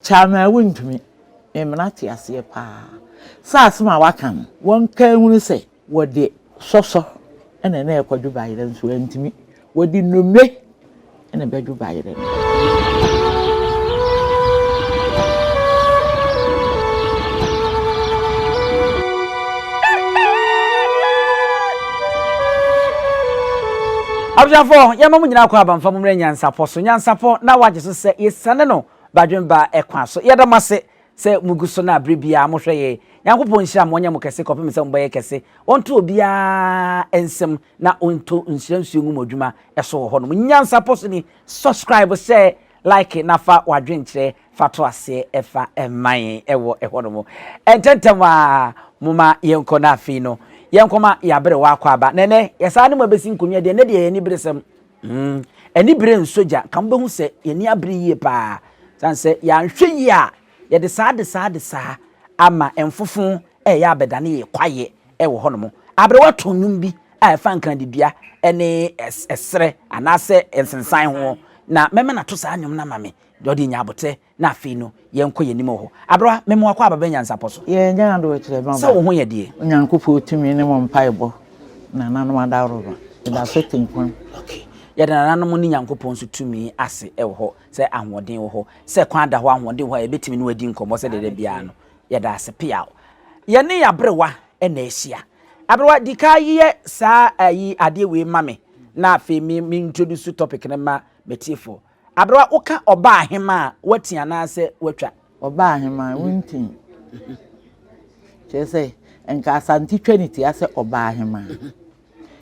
Kyamaa wontumi mmena te aseɛ paa sɛ asem a waka no wɔnka nhunu sɛ wɔde sɔsɔ na na ɛkɔdwo bayerɛ nso antumi wɔde nnomire na ɛbɛdwo bayerɛ no. Abusuafoɔ yɛma mo nyinaa kɔ abamfa mo mmerɛ nyansapɔ so nyansapɔ na wagye so sɛ yɛsane no Badwen ba ɛkwan so. Yɛda mo ase sɛ mo gu so na bere biara mo hwɛ yɛn. Nyankopɔn nhyira mo, ɔnyɛ mo kɛse kɔpem sɛ mo bɛyɛ kɛse. Ɔnto obiara nsam na ɔnto nhyira nsuo ngu mo adwuma so wɔ hɔ nom. Nyansa pɔ so ni. Subscribe, share, like na fa w'adwenkyerɛ fa to aseɛ fa ma yɛn ɛwɔ ɛhɔ nom. Ɛntɛntɛm ara moma yɛnkɔ na afei no yɛnkɔma yɛaberewa akwaaba. Na ɛnɛ yɛsan ne mo abɛsi nkonnwa deɛ ɛnɛ deɛ ɛyɛ aniberesɛm. Mm, anibere nsɔ gya. Nka mobɛhu sɛ yɛn ani abere yie paa. Sane sɛ yɛanhwɛ yie a, yɛde saa de saa de saa ama mfofo ɛyɛ abɛdane yɛn kwaeɛ ɛwɔ hɔnom. Aberewa too nnwom bi a ɛfa nkradidua ne ɛserɛ anaasɛ nsensan ho, na mɛma no ato saa nnwom no ama me, deɛ ɔde nya abotɛ Na afei no, yɛnkɔ yɛn anim wɔ hɔ. Aberewa, mema wo akwaaba bɛn nyansapɔ so? Yɛ nyɛ adoekyerɛ ma ba. Sɛ wo ho yɛ deɛ. Onyankopɔn tumi ne mo mpaebɔ nananom adaworoma ɛda so tenkwam. Okay. Yɛda nananom ne Nyankopɔn nso tumi ase wɔ hɔ sɛ ahoɔden wɔ hɔ, sɛ kwan da hɔ ahoɔden wɔ hɔ a yɛbɛtumi ne wo adi nkɔmmɔ sɛdeɛ da biara no. Yɛda ase peaw. Yɛne aberewa na ahyia. Aberewa, di kan yɛ saa ayi adeɛ wei ma me na afei me me introduce topic no ma m'atiefoɔ. Aber a woka ɔbaahemaa a, wɔatsi anaasɛ wɔatwa? Ɔbaahemaa, wonntsim. Kyerɛ dɛ, nka Asante twa ne tsia sɛ ɔbaahemaa.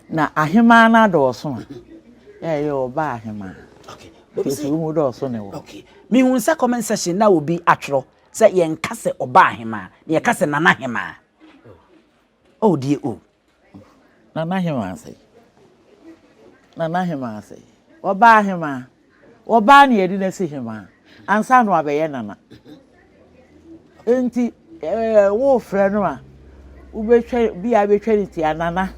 Na ahemaa no adɔɔ sõ a, yɛ a yɛyɛ ɔbaahemaa. Ntsi so wohu dɛ ɔsõ ne wɔ? Mehu sɛ comment section no a obi atwerɛ sɛ yɛnka sɛ ɔbaahemaa, na yɛka sɛ nanahemaa. Oh deɛ oh. Na n'aheman asɛe. Na n'aheman asɛe. Ɔbaa hemaa. Ɔbaa na yɛde no asi hemaa. Ansa na wabɛyɛ nana. Nti ɛɛ wofrɛ no a, wobɛtwa bi a wobɛtwa ne ti a nana.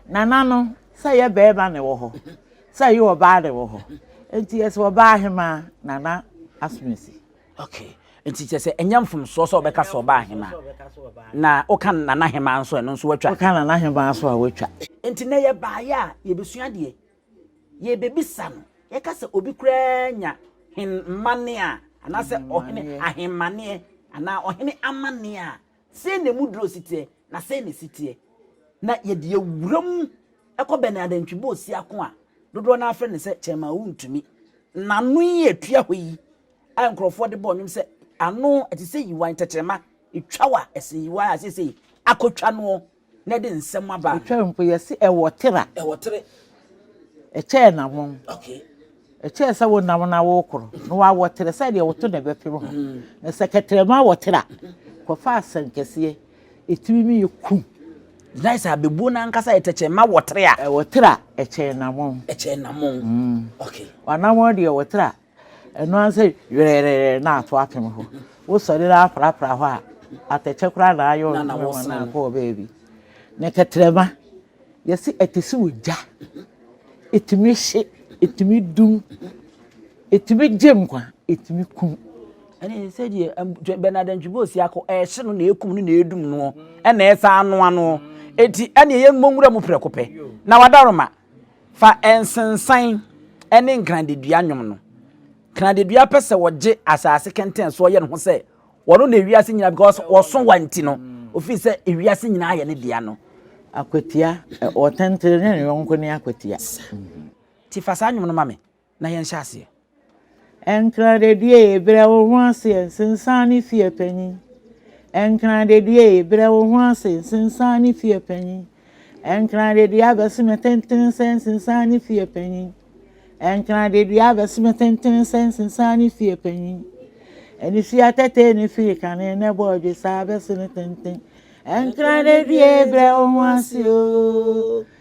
Nana no sɛ yɛ bɛrima na ɛwɔ hɔ. Sɛ yɛ ɔbaa na ɛwɔ hɔ. Nti yɛsɛ ɔbaa hemaa nana asomasi. Okay. Nti kyerɛ sɛ ɛnyɛ mfomsoɔ sɛ ɔbɛka sɛ ɔba ahema. Na woka nana ahema nso ɛno nso watwa. Woka nana ahema nso a watwa. Nti na yɛbaeɛ a yɛbɛsua deɛ yɛbɛbisa no. Yɛka sɛ obi koraa nya hen mmaneɛ a anaasɛ ɔhene ahemmaneɛ anaa ɔhene amaneɛ a sei na ɛmu duro si teɛ na sei na ɛsi teɛ. Na yɛde yɛwura mu ɛkɔ bɛn adantwibɔ ɔsiako a dodoɔ no afrɛ no sɛ kyɛma wontumi. N'ano yi atua hɔ yi a nkurɔfoɔ de bɔɔ nnwom sɛ ano ɛte sɛ yiwan tɛkyerɛma ɛtwa wa ɛsɛ yiwan a seesei akɔtwa noɔ na ɛde nsɛm aba no. ɛtwa mpo yɛse ɛwɔ tera ɛwɔ tere ɛkyɛɛ na wɔn okay ɛkyɛɛ sɛ wo nam na wokoro na wawɔ tere sɛ deɛ woto na ɛbɛpem ho na sɛ kɛtrɛma wɔ tera kɔfa asɛnkɛseɛ ɛtumi mi yɛ kum gyinae sɛ abɛbuo no ankasa yɛ tɛkyerɛma wɔ tere a ɛwɔ tera ɛkyɛɛ na wɔn ɛkyɛɛ na wɔn okay wanawɔn deɛ wɔ tera Ɛno ara sɛ werɛɛrɛɛ na ato apem hɔ. Wosɔre na aprapra hɔ a, atɛkyɛ koraa na ayɛ ɔno na wɔn na akɔ baabi. Ne kɛtrɛma, yɛsi ɛte sɛ ogya. Etumi hye, etumi dum, etumi gye nkwa, etumi kum. Ɛne sɛdeɛ Bernard Antwibo Osiako ɛhye no na ekum no na edum no ɛna ɛsan anoa no. Eti ɛne yɛn mmɔ nwura mu prɛko pɛ na wadaroma. Fa nsensan ne nkradedua nnwom no. Kradedua pɛ sɛ wɔgye asase kɛntɛn soɔ yɛ ne ho sɛ wɔno na ewiase nyinaa because wɔso wa nti no ofiri sɛ ewiase nyinaa yɛ ne dea no. Akwatia, wɔtɛntɛn ne yɔnko ne akwatia. Nti fa saa nnwom no ma me. na yɛnhyɛ aseɛ. Nkradadue, brɛ wo ho ase nsensan ne fie panyin. Nkradadue, brɛ wo ho ase nsensan ne fie panyin. Nkradadue abɛse me tenten sɛ nsensan ne fie panyin. Nkradadue abɛse me tenten sɛ nsensan ne fie panyin. Anifia tɛtɛɛ ne firi kane ne bɔ ɔdwe saa abɛse ne tenten. Nkradadue, brɛ wo ho ase oo.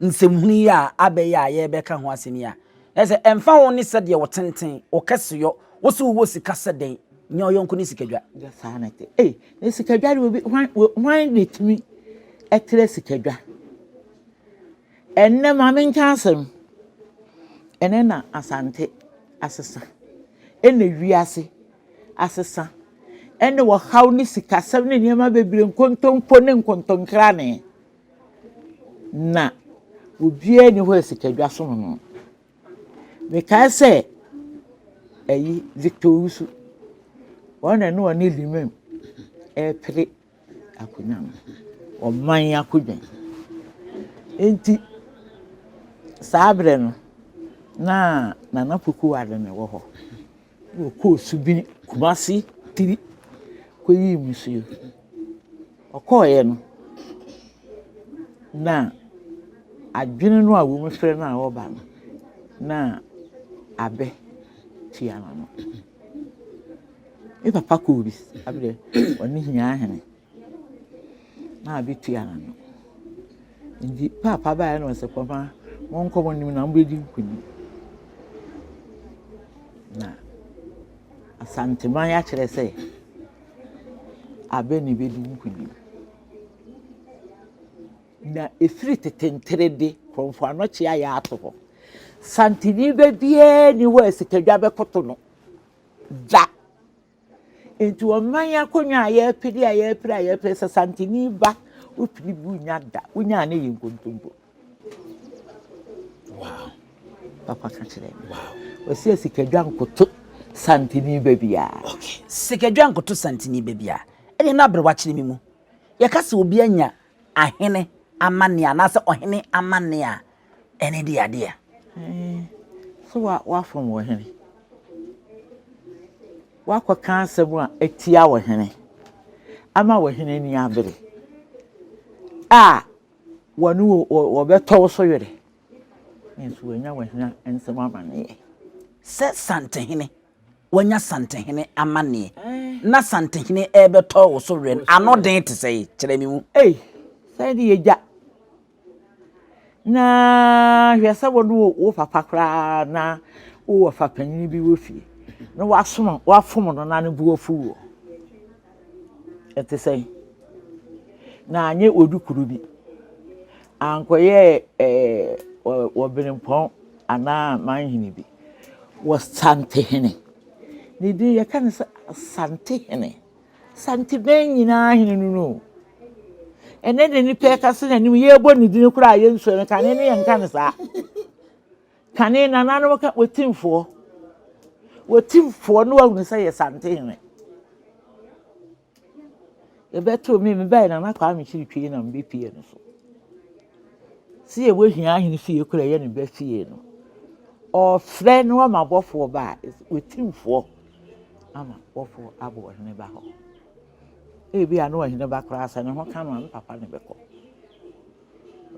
nsɛmhunu yi a abɛ yi a yɛrebɛka ho asɛm yi a, na sɛ ɛmfa ho ne sɛdeɛ wo tenten, wo kɛseyɔ, wo se wowɔ sika sɛ dɛn, nyɛ ɔyɔnko ne sikadwa. Nyɛ saa na ɛte. Ei, na sikadwa de obi hwan hwan na ɛtumi ɛtrɛ sikadwa? Ɛnnɛ ma menka asɛm. Ɛnnɛ na Asante asesa. Ɛnna wiase asesa. Ɛnna wɔhaw ne sikasɛm ne nneɛma bebree nkontompo ne nkontonkrane. na obiara nni hɔ a sika dwa so no no. Mekae sɛ ayi Victor Owusu, wɔn na ɛne ɔne Limaam repere akonnwa no, ɔman akonnwa. Enti saa berɛ no, na Nana Poku-Wale na ɛwɔ hɔ. Ɔkɔɔ subin Kumase tiri kɔyii musuo. Ɔkɔeɛ no, na adwene no a wɔfrɛ no a ɔreba no, na abɛ tua n'ano. Me papa kɔɔ bi, abɛ deɛ ɔne Hiahene. na bi tua ano. Ntsi paapa bae na ɔse, Koma, monkɔ mo enyim na mubedzi nkonyim. Na Asanteman akyerɛ sɛ aber na ibedzi nkonyim. Na efir tsetsentr de, Krɔmfo anɔkyea yɛ ato hɔ. Santsenyi ba biara nnyi hɔ a sikadwa bɛkoto no da. Nti ɔman akonnwa a yɛpede a yɛpere a yɛpere sɛ santini ba wopiri bu nya da wonya ne yɛ nkontompo. Wow. Papa ka kyerɛ me. Wow. Wɔsi asikadwa nkoto santini ba biara. Okay. Sikadwa nkoto santini ba biara. Ɛne na aberewa kyerɛ me mu. Yɛka sɛ obi anya ahene amanne anaasɛ ɔhene amanne a ɛne di adeɛ a. So woafom wo hene? Woakɔka asɛm a ɛtia wo hene ama wo hene ani abere a wɔne wɔbɛtɔ wo so werɛ nso wɔanya wo hene nsɛm amanneɛ. Sɛ santehene wanya santehene amanneɛ na santehene rebɛtɔ wo so werɛ ano den te sɛ kyerɛ me mu. Ei, sɛ ne yɛgya Na hwɛ sɛ wo ne wo wo papa koraa na wowɔ fa panyin bi wɔ fie na wasom wafom no na ne bo afu wo. Ɛte sɛ na anyɛ odu kuru bi ankɔyɛ ɛɛ wɔ benempɔn anaa manhene bi wɔ santehene ne din yɛka ne sɛ asantehene. Santebɛn nyinaa hene no no. Ɛnɛ de nipa ɛka se n'anim yɛbɔ ne dini koraa yɛnsua no kane no yɛnka no saa. Kane nananom ka wɔtimfoɔ. Wɔtimfoɔ no wahunu sɛ yɛ santehene. Yɛbɛtoo me mebae nana kwaa mekyiri twei na mebɛpie no so. Seɛ wɔ hia ahene fie koro a ɛyɛ ne ba fie no. Ɔɔfrɛ na wama bɔfoɔ ba a, wɔtimfoɔ ama bɔfoɔ abɔ ɔhene ba hɔ. Ebi a na ɔhene ba koraa sɛ ne ho ka no a, ne papa ne bɛkɔ.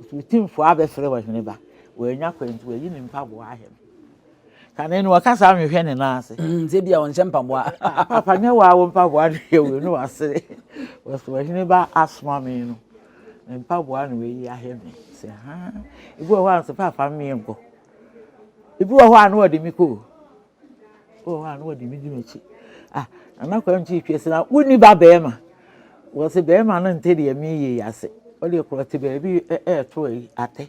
Nti wɔtimfoɔ abɛfrɛ ɔhene ba. Wɔanya kwan nti wɔayi ne mpaboa ahɛ no. Kane no wɔkasa ahwehwɛ ne nan ase. Mm, sɛ bi a wɔnhyɛ mpaboa. Ah, papa nyɛ waa wo mpaboa no yɛ wei ne wasere. Wɔsɛ ɔhene ba asoma me no. Me mpaboa na wayi ahwɛ me sɛ haa ebi wɔ hɔ a nso papa mmea nkɔ ebi wɔ hɔ a na wɔde me kɔ o ebi wɔ hɔ a na wɔde me di m'akyi ah nana kwan ti twa si na wonni ba bɛrima wɔsi bɛrima no nte deɛ meyɛ yi ase ɔde korɔ te baabi ɛɛto ayi atɛ.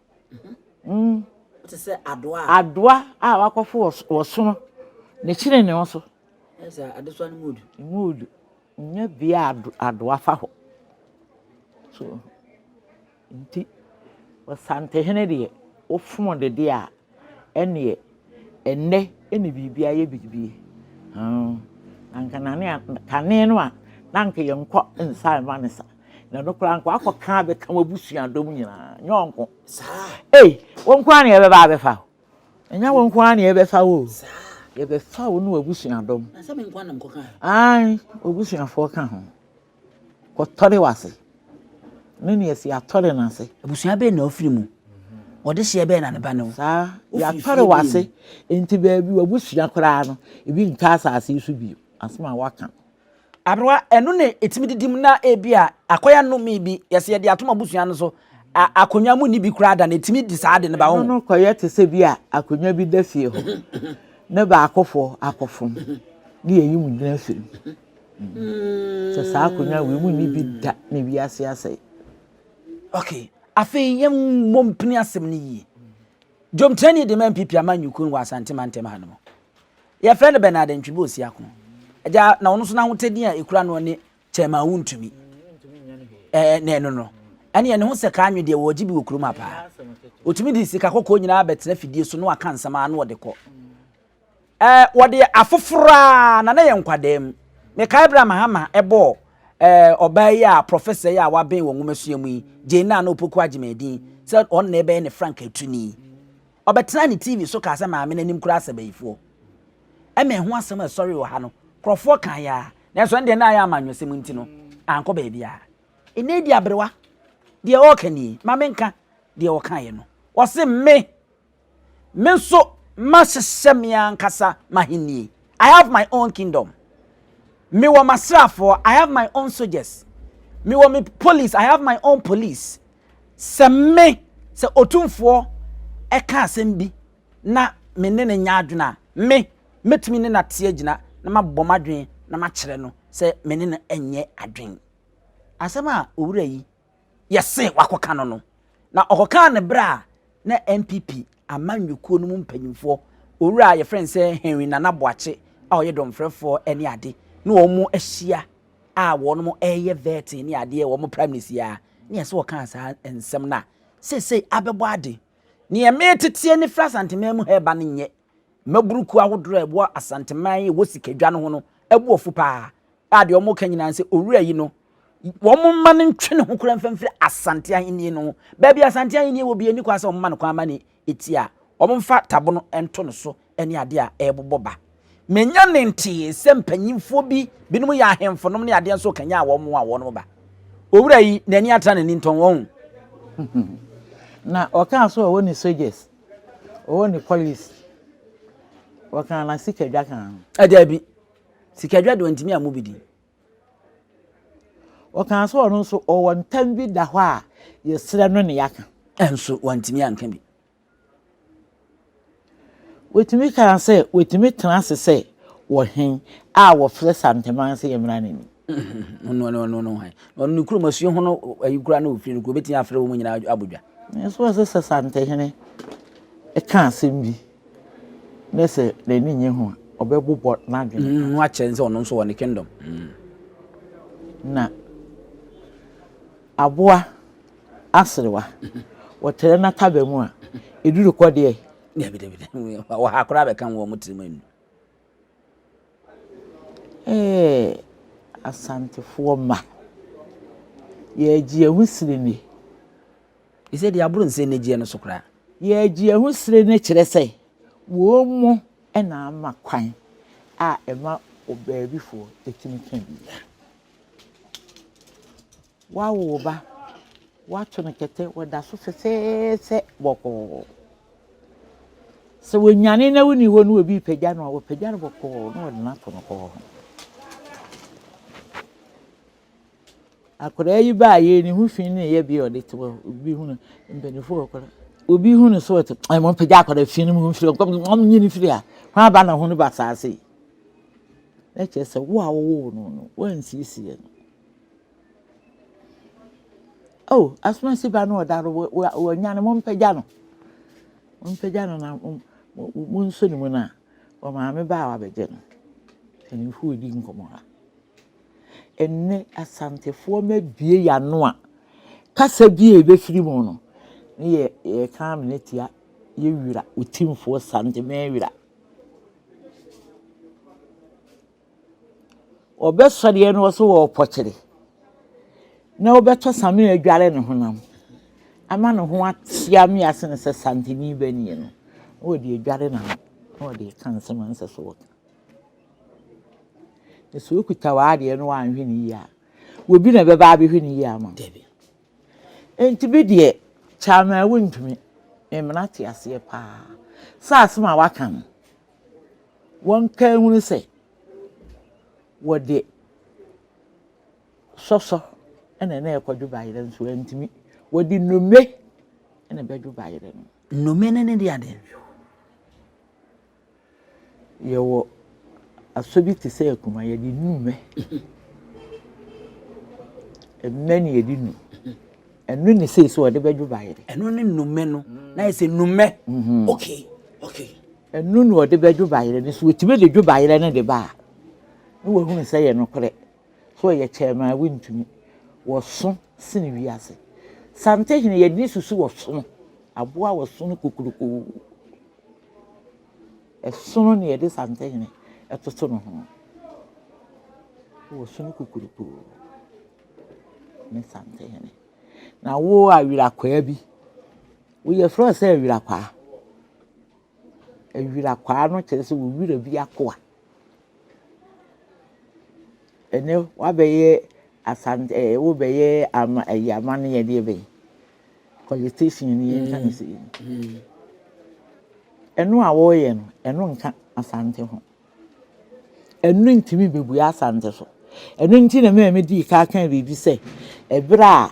Mm. Te sɛ adoa. Adoa a wakɔfo wɔ wɔ sono. Ne kyene ne ho so. Ɛsɛ adesoa no mu odu. Mu odu. Nya bia adoa fa hɔ. So nti ɔsantehene deɛ wofom de deɛ a ɛneɛ ɛnɛ ɛne biribi ayɛ biribi. Anka nane kane no a na anka yɛnkɔ nsa ɛma ne sa. na no koraa nko akɔ kan abɛka wɔn abusua dɔm nyinaa nyɛ wɔn nko ee wɔn nko ara na yɛbɛba abɛfa o ɛnyɛ wɔn nko ara na yɛbɛfa o yɛbɛfa o ne wɔn abusua dɔm ayi obusuafoɔ ka ho kɔtɔre wase ne nea si atɔre n'ase. abusua bɛyɛ na ɔfiri mu wɔde hyɛ bɛyɛ na ne ba no. saa yɛatɔre wase nti baabi wɔ abusua koraa no ebi ntaa asase so bio asoma waka. Aberewa, ɛno na ɛtumi didi mu na ebi a akɔyɛ nnome bi, yɛsɛ yɛde atom abusua no so, akonnwa mu ni bi koraa da no, ɛtumi di saa de no ba ho. Ɛno no kɔyɛ te sɛ bi a akonnwa bi da fie hɔ, ne baakofoɔ akɔfom, ne yɛyi mu gyina fie no. Mm. Sɛ saa akonnwa wei mu ni bi da na wiase asɛe. Okay. Afei yɛn mmɔ mpini asɛm no yie. Dwomkyerɛni de ma MPP ama nyukun wɔ Asante mantam ha no mu. Yɛfrɛ no Bernard Ntwebe Osiako. Agya, na ɔno nso n'ahotedin a ekura no ne Chairman Wontumi. Ɛɛ, na ɛno no, ɛne ne ho sɛ kaa nwe deɛ wɔregye bi wɔ kurom ha paa. Ɔtumi de sika kɔkɔɔ nyinaa bɛtena fidie so na waka nsɛm ara na ɔde kɔ. Ɛɛ, wɔde afoforɔ a, na na yɛ nkwadaa mu. Mekae berɛ a Mahama bɔɔ ɛɛ ɔbaa yi a prɔfɛsa yi a waben wɔ nwomasua mu yi, Jane Nana Opoku Agyeman din sɛ ɔno na ɛbɛyɛ ne Frank Atuni. Ɔbɛtenaa ne TV so kaa sɛ Maame no anim koraa sɛ bayifoɔ. Ɛmɛn ho asɛm a ɛsɔree wɔ ha no, nkurɔfoɔ kaeɛ ara, nanso ɛnde na ayɛ amanyɔsɛm nti no, ankɔ baabiara. Ɛnnɛ deɛ aberewa, deɛ ɔreka nie, ma menka deɛ ɔkaeɛ no. Ɔse, Me, me nso mahyehyɛ me ankasa m'ahennie, I have my own kingdom. Mewɔ m'asraafoɔ, I have my own soldiers. Mewɔ me police, I have my own police. Sɛ me, sɛ Otumfoɔ ka asɛm bi na me ne no nyɛ adwene a, me, mɛtumi ne no ate agyina na mabɔ m'adwene na makyerɛ no sɛ me ne no nyɛ adwene. Asɛm a owura yi yɛse wakɔka no no, na ɔkɔkaa no berɛ a na NPP amanyɔkuo no mu mpanyimfoɔ, owura a yɛfrɛ no sɛ Henry Nana Boakye a ɔyɛ dɔmfrɛfoɔ ne ade, na wɔahyia. a wɔnom ɛɛyɛ vɛɛtee ne adeɛ wɔ ɔmo primaries yi aa ne ɛsɛ ɔkaa saa nsɛm no a seisei abɛbɔ ade. Neɛ mee teteɛ ne firi Asanteman mu ha ɛba no nyɛ mmaburu kuo ahodoɔ a ɛwɔ Asanteman yi ɛwɔ sikadwa no ho no ɛboɔfo paa a deɛ ɔmo ka nyinaa ne sɛ owura yi no ɔmo mma no ntwe ne ho koraa mfa mfiri Asante ahennie no ho. Baabi Asante ahennie wɔ biaa ɛnni kwan sɛ ɔmo ma no kwan ma ne ɛti a wɔmfa tabono nto no so ne adeɛ a ɛrebobɔ ba. Menya ne ntee sɛ mpanyimfoɔ bi, binom yɛ ahemfonom ne adeɛ nso kanyaa wɔn a wɔnom ba. Owura yi, n'ani atra n'ani ntɔn wɔn. Na ɔkaa so ɔwɔ ne soldiers, ɔwɔ ne police, ɔkaa na sikadwa kaa ho. Daabi, sikadwa deɛ ɔntumi ammu bi din. Ɔkaa sɛ ɔno nso ɔwɔ ntam bi da hɔ a yɛsrɛ no na yɛaka. Nanso wantumi anka bi. Wɔtumi kaa sɛ watumi tena ase sɛ ɔhen a wɔfrɛ Santeman sɛ yɛmmra n'anim. Ɔno ɔno ɔno ɔno hwan? Ɔno ne kurom asuo ho no ayi kura na ofiri no kuro betumi afrɛ wɔn nyinaa abɔ dwa. Nanso wɔsɛ sɛ Santehene ɛka asɛm bi. Ne sɛ n'ani nye ho a, ɔbɛbobɔ n'adwene. Mm, no akyerɛ sɛ ɔno nso wɔ ne kingdom. Mm. Na aboa aserewa, wɔtrɛ n'ataba mu a, ɛduru kɔ deɛ. Dabi, dabi, dabi. Wɔ ha koraa bɛka wɔn tirim anu. Asantefoɔ mma, yɛregye yɛn ho sini ni. Te sɛ deɛ aboro nsɛn anigyeɛ no so koraa. Yɛregye yɛn ho sini ni kyerɛ sɛ wɔn na ama kwan a ɛma ɔbaabifoɔ tumi ka biribiara. Woawo wo ba, woato no kɛtɛ, ɔda so fɛfɛɛfɛ bɔkɔɔ. Sɛ wɔnwane na wonni hɔ no obi repagya no a, wɔpagya no bɔkɔɔ na wɔde no ato no kɔɔ ho. Akwadaa yi baayɛ ne ho fi ne yɛ bi a ɔde te hɔ obi hu no mpanyinfoɔ wɔ kɔla obi hu no so ɔte ɛmɔ eh, mpagya akwadaa fi no mu mfiri ɔkɔm ɔm nyi no firi a ho aba na ho no ba saase ɛkyɛ sɛ wo a wɔwɔ no no wɔnsiesie no Oh, asomasi ba no ɔda no wɔanya no mompagya no mompagya no na monso ne mu no a ɔmaame ba a wabɛgye no mpanimfo ɔdi nkɔmmɔ ha ɛnnɛ asantefoɔ ma bie yano a kasa bie a ɛbɛfiri mu no ne yɛ yɛka amena tia yɛwira ɔtimfoɔ sante mɛwira Wɔbɛsɔreɛ no ɔso wɔ ɔpɔkyere, na wɔbɛtɔ Samir adware ne honam, ama ne ho ate ame ase no sɛ Santini ba nie no, na wɔde adware n'ano, na wɔde reka nsɛm a ɛnsɛ sɛ wɔka. Na sɛ wɔkuta w'adeɛ no wɔanhwɛ no yie a, obi na ɛbɛba abɛhwɛ no yie ama wo. Enti bi deɛ kyɛ anaa wontumi, me mmara te aseɛ paa. Sɛ asɛm a wɔaka no, wɔnka nhunu sɛ wɔde sɔsɔ na na ɛkɔdwo bayerɛ nso antumi. Wɔde nnume na ɛbɛdwo bayerɛ no. Nnume no ne de adeɛ. Yɛwɔ asɔ bi te sɛ akuma yɛde nnume. Mmɛ na yɛde nu. Ɛno ne sei sɛ wɔde bɛdwo bayerɛ. Ɛno ne nnume no. Na yɛ sɛ nnume. Mhm. Okay. Okay. Ɛno na ɔde bɛdwo bayerɛ no. Sɛ ɔtumi de dwo bayerɛ no de ba a, na wahunu sɛ ɛyɛ nokorɛ. Sɛ ɔyɛ kyɛm a, wontumi. Wɔso sene wiase. Santehene, yɛn ani susu wɔsono. Aboa a wɔsono kokurokoo. Ɛsono na yɛde santehene ɛtoto no ho. Wɔsono kokurokoo ne santehene. Na wo awirakwaa bi. Wɔfrɛ no sɛ awirakwaa. Awirakwaa no kyerɛ sɛ wo wira bi akoa. Ɛnnɛ wabɛyɛ Asante ɛɛ wobɛyɛ ama ɛyɛ amanneɛ deɛ bɛn? Politician ni yɛn nka ne sɛ yi. Mm. Ɛno a wɔreyɛ no, ɛno nka Asante ho. Ɛno ntumi bɛbue Asante so. Ɛno nti na mɛmɛ dii ka kan biribi sɛ ɛberɛ a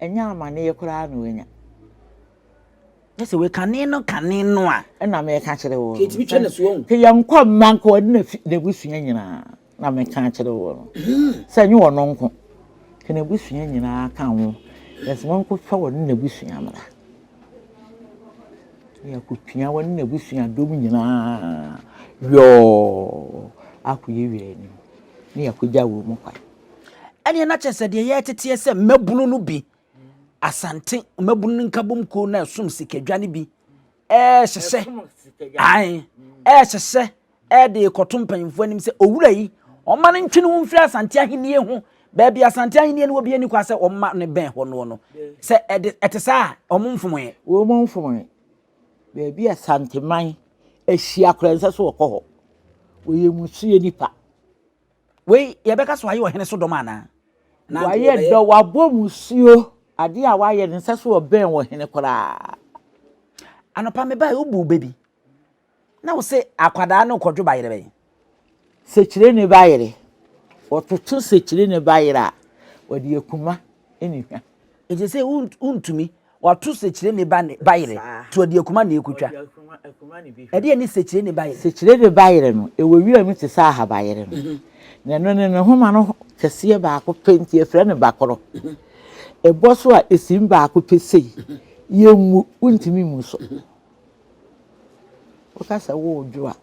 Ɛnyɛ amanneɛ koraa na wanya. Gye sɛ woyɛ kane no kane no a. Ɛna meka kyerɛ wo no. Sɛ yɛnkɔ mma nka ɔne n'abusua nyinaa. Na meka kyerɛ wo no. Sɛ ɛnyɛ ɔno nko. Ka n'abusua nyinaa ka ho. Na sɛ monkɔfa ɔne n'abusua mmra. Na yɛakɔpia ɔne n'abusuadɔm nyinaa yɔɔ akɔyɛ wianim. Na yɛakɔgya wɔn kwan. Ɛneɛ na kyerɛ sɛ deɛ yɛreteteɛ sɛ mmabunu no bi, Asante mmabunu no nkabom kuo no ɛsom sikadwa no bi, ɛrehyehyɛ, ae, ɛrehyehyɛ, ɛde rekɔto mpanyinfoɔ anim sɛ owura yi, ɔma no ntwe ne ho mfiri Asante ahennie ho, baabi Asante ahennie no wɔ bi ani kwa sɛ ɔma no bɛn hɔ noɔ no, sɛ ɛde ɛte saa a, wɔn mfomoeɛ. Wɔn mfomoeɛ. Baabi Asanteman ahyia koraa nsɛ sɛ wɔkɔ hɔ. Wɔyɛ mmusuo nipa. Wei, yɛbɛka sɛ wayɛ ɔhene so dɔm anaa? Nanto Wayɛ ɔbɛyɛ. dɔ, wabɔ mu suo. Adeɛ a wayɛ no, nsɛ so ɔbɛn ɔhene koraa. Anɔpa mebae, wobuu bɛ bi. Na wo se akwadaa no rekɔdwo bayerɛ bɛn? Sekyire ne bayerɛ. Wɔtoto sekyire ne bayerɛ a, wɔde akuma ne hwa. Enti ɛsɛ sɛ wo, wontumi. Wɔato sekyireni ba ne ba yere, toa di akuma na ekotwa. Ɛdeɛn ne sekyireni ba yere? Sekyireni ba yere no, ɛwɔ wiram te sɛ ahabayere no, na ɛno ne ne nhoma no kɛseɛ baako pɛ, nti yɛfrɛ no bakorɔ. Ɛbɔ so a, ɛsim baako pɛ sei, yɛmmu, wontumi mmu so. Woka sɛ woredwo a,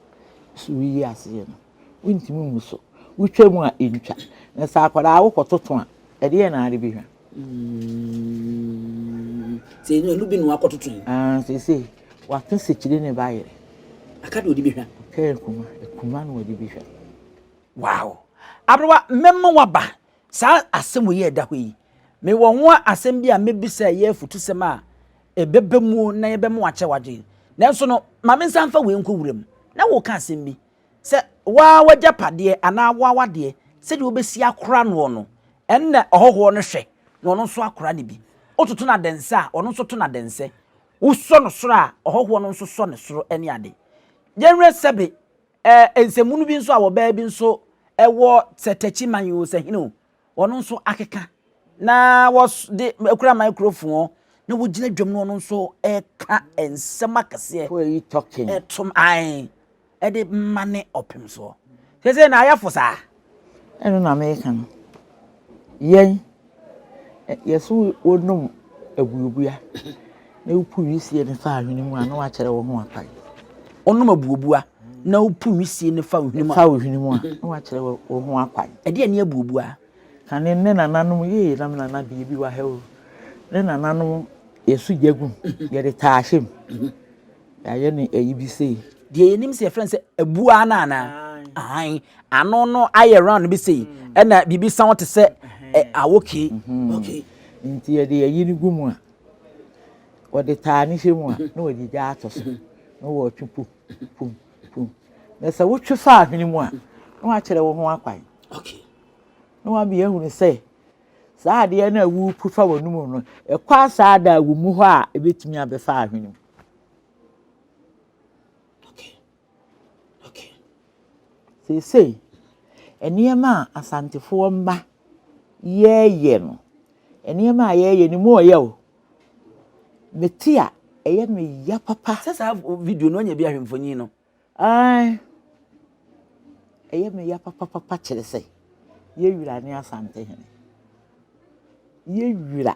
so woyi aseɛ no? wontumi mmu so. Wotwa mu a, entwa. Na sɛ akwadaa wokɔtoto a, ɛdeɛn na ade bɛhwa? sɛ ɛnu ɛnu bi na wakɔtoto yi. Ah, sɛ sɛ waka sekyire ne ba yere. Aka deɛ ɔde bɛhwa. Ɔka akuma, akuma na ɔde bɛhwa. Wow. Aberewa, mɛma waba saa asɛm wei ɛda hɔ yi. Mewɔ ho asɛm bi a mɛbisa ɛyɛ afutusɛm a ɛbɛba mu na yɛbɛma wakyɛ wadwen. Nanso no, ma mensan fa wei nkɔ wuram. Na woka asɛm bi. Sɛ wo ara w'agyapadeɛ anaa wo ara w'adeɛ, sɛdeɛ wobɛsi akora noɔ no, ɛnna ɔhɔhoɔ no hwɛ, na ɔno nso akora no bi. Wototo no adɛnsɛ a, ɔno nso to no adɛnsɛ. Wosɔ no soro a, ɔhɔhoɔ no nso sɔ ne soro ne ade. Yɛnwerɛ sɛbe ɛ, nsɛmmono bi nso a wɔbɛyɛ bi nso wɔ sɛ Takyi man yi o, sɛ hene o, ɔno nso akeka na wɔde kura microphone na wogyina dwam no ɔno nso ɛka nsɛm akɛseɛ who are you talking ɛtom ae ɛde mma ne ɔpem soɔ sɛ sɛ na ayɛfo saa ɛno na meka no yɛn yɛso wɔnom abuabua Na wopu wisie no fa ahwene mu a, na wakyerɛ wo ho akwan. Wonom abuobua, na wopu wisie no fa ohwene mu a. Fa ohwene mu a, na wakyerɛ wo ho akwan. Ɛdeɛ ne abuobua? Ka ne ne nananom yee na me nana bie bi wa ha o. Ne nananom yɛso gya gu, yɛde taa ahyɛ mu. Yɛayɛ ne ayi bi sei. Deɛ yɛnim sɛ yɛfrɛ no sɛ abua no anaa? Ano no ayɛ round bi sei, ɛna biribi san te sɛ awoke. Nti yɛde ayi no gu mu a. Wɔde taa no hwɛ mu a, na wɔde gya ato so, na wɔretwe pum, pum, pum. Na sɛ wotwe fa ahwene mu a, na wɔakyerɛ wo ho akwan. Okay. Na wɔabea ahunu sɛ saa adeɛ no a worepu fa wɔn mu no, ɛkɔ asaa da a wɔmu hɔ a ɛbɛtumi abɛfa ahwene mu. Okay. Seesei, nneɛma a Asantefoɔ mma yɛɛyɛ no, nneɛma a yɛɛyɛ no mu ɔyɛ o. Mete a, ɛyɛ me ya papa. Sɛ saa video no ɔnyɛ bi ahwɛ mfonyin no. Ae. Ɛyɛ me ya papapapa kyerɛ sɛ, yɛwura ne Asante hene. Yɛwura.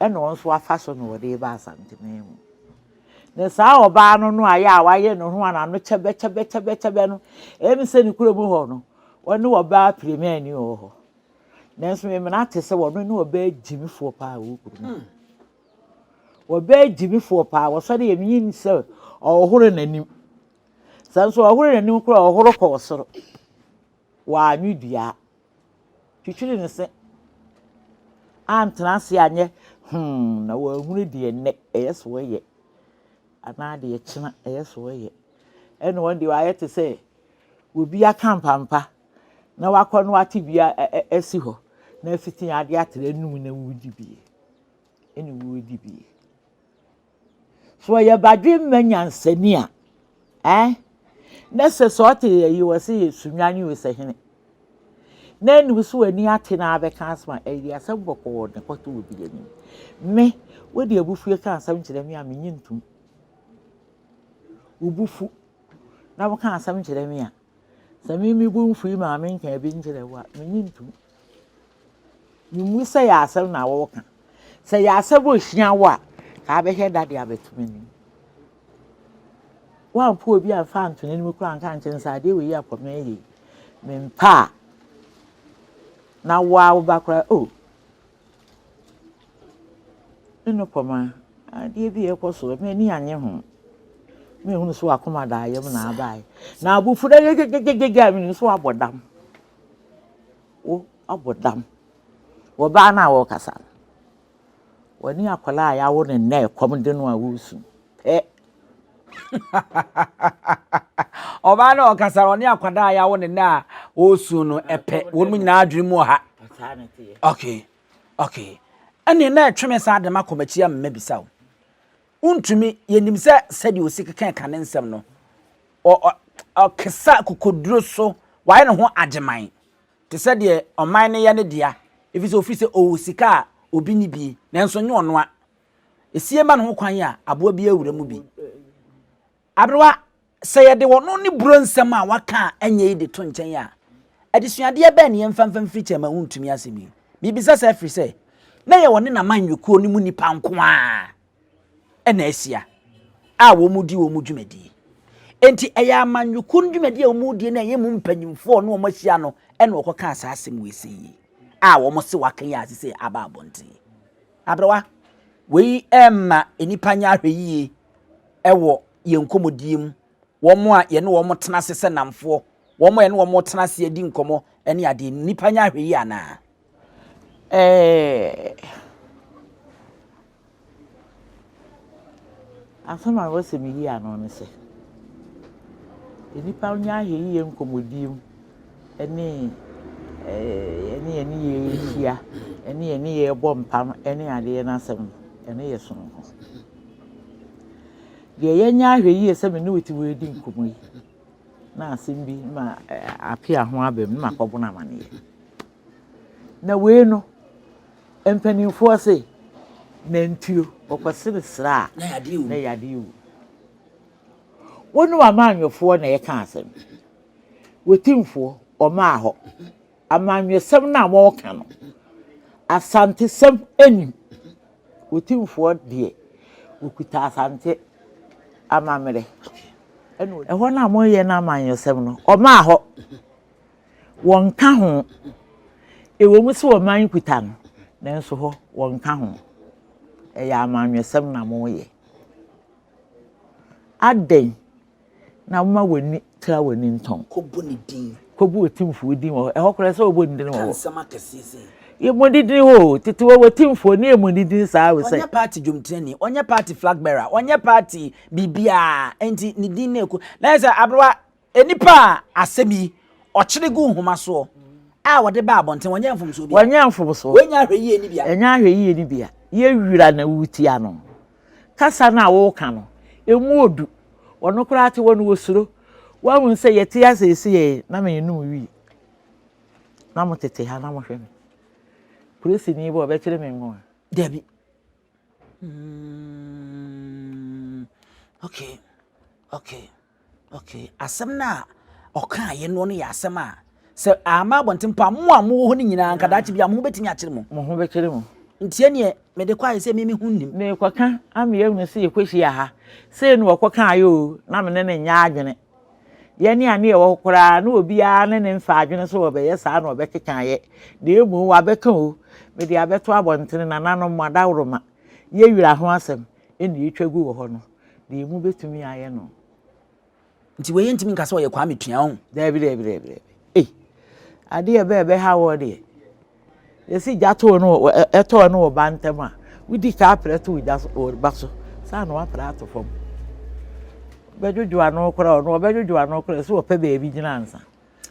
ɛna ɔno nso afa so na ɔde reba Asanteman mu. Na saa ɔbaa no no a yɛ a wayɛ ne ho a n'ano kyɛbɛkyɛbɛkyɛbɛkyɛbɛ no, ɛyɛ me sɛ ne kura mu hɔ no, ɔne ɔbaa piremiani wɔ hɔ. Nanso memena te sɛ wɔno ne ɔbaa gyimifoɔ paa wɔ kuro mu. Hmm. Ɔbaa gyimifoɔ paa, wɔsɔre yɛ meyi sɛ ɔhoro n'anim. Sɛ nso ɔhoro n'anim koraa ɔhoro kɔɔ soro. Wɔanwe dua. Twitwiri ne se. Antena ase anyɛ hmm na wanhunu deɛ nnɛ ɛyɛ sɛ ɔyɛ anaa deɛ kyena ɛyɛ sɛ ɔyɛ. Ɛna wɔn deɛ wayɛ te sɛ obi aka mpampa na wakɔ no ate bi asi hɔ na afiti adeɛ atra anum na wɔredi bie ɛne wɔredi bie. So ɔyɛ badwemma nyansani a, eh? Na sɛ sɛ ɔte yɛ yi wɔ sɛ yɛ sunwa ne osahene. Na anim so w'ani ate na abɛka asɛm a ɛyɛ asɛm bɔkɔɔ ne kɔtɔ wɔ bi anim. Me, wode abufue ka asɛm kyerɛ me a menye ntom. Wobufu na woka asɛm kyerɛ me a. Sɛ me me bo mfui maame nka bi nkyerɛ wo a, menye ntom. Memu sɛ yɛ asɛm na wɔka. Sɛ yɛ asɛm a ɔhyia wo a, saa bɛhwɛ da de abɛto m'anim. Woampo obi amfa anto n'anim koraa nka nkyɛn sɛ adeɛ wei yɛ akɔ me yie. Mempa a, na woa wo ba koraa, oh, Me ne kɔma adeɛ bi ɛkɔ so m'ani annye ho mehunu so akoma da ayam na abae na abufu dɛ gyegyegyegye a menim so abɔ dam wo abɔ dam wɔ baa no a wɔrekasa no wɔne akwadaa a yɛawo no nnɛ ɛkɔm de no a woresu Eh. Ɔbaa no a ɔkasa no, ɔne akwadaa a yɛawo ne nnɛ a ɔresu no pɛ. Wɔn nyinaa adwene mu wɔ ha. Okay. Okay. Ɛne na ɛtwe me saa de ma kɔmakyi a mmabisa o. Wontumi, yɛnim sɛ sɛdeɛ ɔsi keka ka ne nsɛm no, ɔkesa kokoduro so, wayɛ ne ho agyeman. Te sɛ deɛ ɔman no yɛ ne dea, ɛfiri sɛ ɔfiri sɛ ɔwɔ sika a obi nni bi, nanso nyɛ ɔno a. Esie ma no ho kwan a aboa biara wura mu bi. Aberewa, sɛ yɛde ɔno ne buro nsɛm a waka a ɛnyɛ yi de to nkyɛn a, adesuadeɛ bɛn na yɛmfa mfa mfiri kyɛn ma wontumi asɛm yi? Mebisa saa ɛfiri sɛ, na ɛyɛ ɔne n'amanyɔkuo no mu nnipa nko ara na ahyia a wɔredi wɔn dwumadie. Enti ɛyɛ amanyɔkuo no dwumadie a wɔredie no a ɛyɛ mu mpanimfoɔ ne wɔahyia no na wɔkɔkaa saa asɛm wei sei yi a wɔse waka yi a seesei aba abɔnten. Aberewa, Wei remma nnipa nyɛ ahwɛyiye wɔ yɛn nkɔmmɔdie mu, wɔn a yɛne wɔn tena ase sɛ nnamfoɔ, wɔn a yɛne wɔn retena ase adi nkɔmmɔ ne adeɛ no, nnipa nyɛ ahwɛyiye anaa? Ɛɛ. Asɛm a mepɛ sɛ miyi ano ne sɛ, nnipa nyɛ ahwɛyiye nkɔmmɔdie mu ne yɛne yɛn nneyɛɛ rehyia ne yɛn nneyɛɛ rebɔ mpam ne adeɛ no asɛm no, ɛno yɛ soronko. Deɛ yɛnyɛ ahwɛyiye sɛ me ne wo te hɔ redi nkɔmmɔ yi na asɛm bi ma apea ho abam na makɔbɔ no amanneɛ. Na wei no, Mpanimfoɔ se, Nantuo, ɔkɔsene serɛ a, na yadeɛ wu. Wo ne w'amanyɔfoɔ na ɛreka asɛm. W'atimfoɔ, ɔmaa hɔ. Amanyɔsɛm no a wɔreka no, Asantesɛm nnim. W'atimfoɔ deɛ, wɔkuta Asante amammerɛ. Ɛhɔ no a moreyɛ no amanyɔsɛm no, ɔmaa hɔ. wɔnka ho. Ɛwom sɛ ɔman yi kuta no, nanso hɔ wɔnka ho. Ɛyɛ amanyɔsɛm na moyɛ. Adɛn na woma w'ani tra w'ani ntɔn? Kɔbɔ ne din. Kɔbɔ otimfoɔ din wɔ hɔ. Ɛhɔ koraa sɛ wɔbɔ ne din wɔ hɔ. Ka nsɛm akɛseɛ sɛ. Yɛmmɔ ne din hɔ o. Tete wɔ wɔtimfoɔ ne yɛmmɔ ne din saa o sɛ. Ɔnyɛ party dwomtirani, ɔnyɛ party flag bearer, ɔnyɛ party biribiara, enti ne din na ɛkɔ. Na ɛsɛ aberewa Nnipa a asɛm yi, Ɔkyere gu nhoma soɔ, a wɔde ba abɔnten, wɔnyɛ mfomsoɔ biara. Wɔnyɛ mfomsoɔ. Wɔnnya ahwɛyie nni bea. Ɛnnya ahwɛyie nni bea. Yɛ wira na wotia no. Kasa no a woreka no, ɛmu ɔdu. Ɔno koraa te hɔ no, ɔsuro. Woahunu sɛ yɛte ha seesei yi, na mennom wii. Na motete ha na mohwɛ me. Polisini ba a, ɔbɛkyere me ngo a? Dabi. Mm, okay, okay. Okay, asɛm no a ɔkaeɛ no no yɛ asɛm a sɛ ama abɔnten mpo a mo a mowɔ hɔ no nyinaa nka daakye bi a mo ho bɛtumi akyere mo. Mo ho bɛkyere mo. Nti ɛneɛ mede kɔ ayɛ sɛ me me ho nnim. Merekɔka ama yɛahunu sɛ yɛkɔhyia ha sei na ɔkɔkaeɛ o na me ne no nyɛ adwene. Yɛne a ne yɛwɔ hɔ koraa na obiara ne ne mfa adwene sɛ ɔbɛyɛ saa na ɔbɛkeka yɛ na mmom wabɛka o mede abɛto abɔntene nananom mo adaworoma yɛ wira ho asɛm ɛna ɛtwa gu wɔ hɔ no. deɛ mu bɛtumi ayɛ no nti wei yɛntumi nka sɛ ɔyɛ kwame tua ho daabi daabi daabi daabi ei adeɛ ɛbɛ ɛbɛha wɔ deɛ yɛsi gya too no ɛtɔɔ no wɔ ba ntɛm a wodi ka aprɛ to gya so wɔ ba so saa na wapra ato fam bɛdwodwo ano koraa ɔno ɔbɛdwodwo ano koraa sɛ ɔpɛ baabi gyina ansa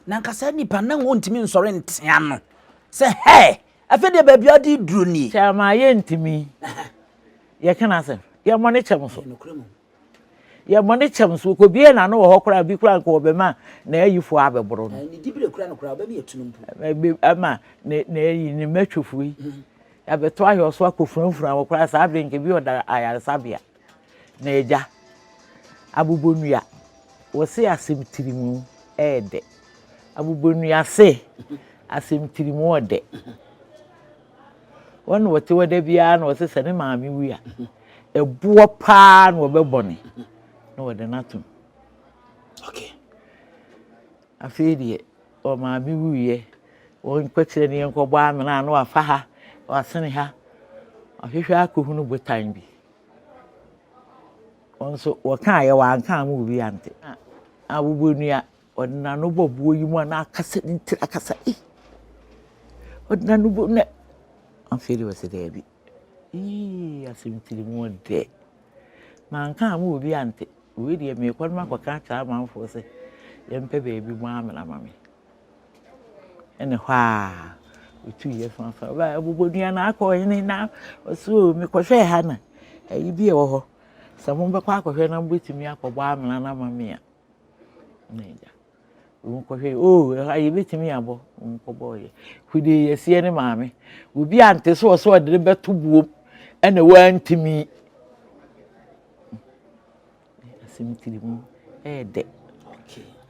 na nkasa nipa na wɔntumi nsɔre ntea no sɛ hɛɛ Afei deɛ baabi a ɔde duro nie. Kyɛ ama yɛntumi. Yɛka n'asɛm. Yɛn bɔne kyɛ mo so. Yɛn bɔne kyɛ mo so. Wɔkɔbue n'ano wɔ hɔ koraa, bi koraa nka wɔbɛma n'ayifoɔ abɛboro no. Ne diberɛ koraa no koraa, wɔbɛma yɛatu no mpo. Ama n'ayi, ne mmatwofoɔ yi, abɛto ayɔso akɔfurafura wɔn koraa, saa berɛ yi nka ebi ɔda ayaresabea. Na agya, abobonua, wɔse asem tirimu ɛɛdɛ. Abobonua se, asem tirimu ɔdɛ. Wɔn na wɔte hɔ da biara na wɔse sɛ ne maame wui a, ɛboɔ paa na wɔbɛbɔ ne na wɔde no atom. Okay. Afei deɛ. Ɔ maame wuiɛ ɔ nkɔkyerɛ ne yɛnkɔbɔ amena na wafa ha wasene ha wahwehwɛ akɔhunu botan bi ɔ nso wɔkaaeɛ wanka ama obi ante a wobɔ nua ɔde n'ano bɔ boɔ yi mu a na akasa ne tiri akasa ei ɔde n'ano bɔ na afei de wɔsɛ daabi Eii asɛm tiri mu ɔdɛ. Manka amma obi ante. Wei deɛ meekɔ no makɔka akyerɛ amanfoɔ sɛ yɛmpɛ baabi mu amena ama me. Ɛne hɔ a ɔtuiɛ faafa baeɛ abobɔdua no akɔ ɔhene na ɔse o mekɔhwɛɛ ha na ayi bi ɛwɔ hɔ sɛ mobɛkɔ akɔhwɛ na mobɛtumi akɔbɔ amena no ama me a. Wɔn kɔ hwɛ oh ɛha yɛ bɛ tumi abɔ wɔn kɔ bɔɔ yɛ kude yɛ seɛ ne maame obi a nte so ɔsɛ ɔde bɛ to buom ɛna wɔn ntumi asɛm tiri mu ɛyɛ dɛ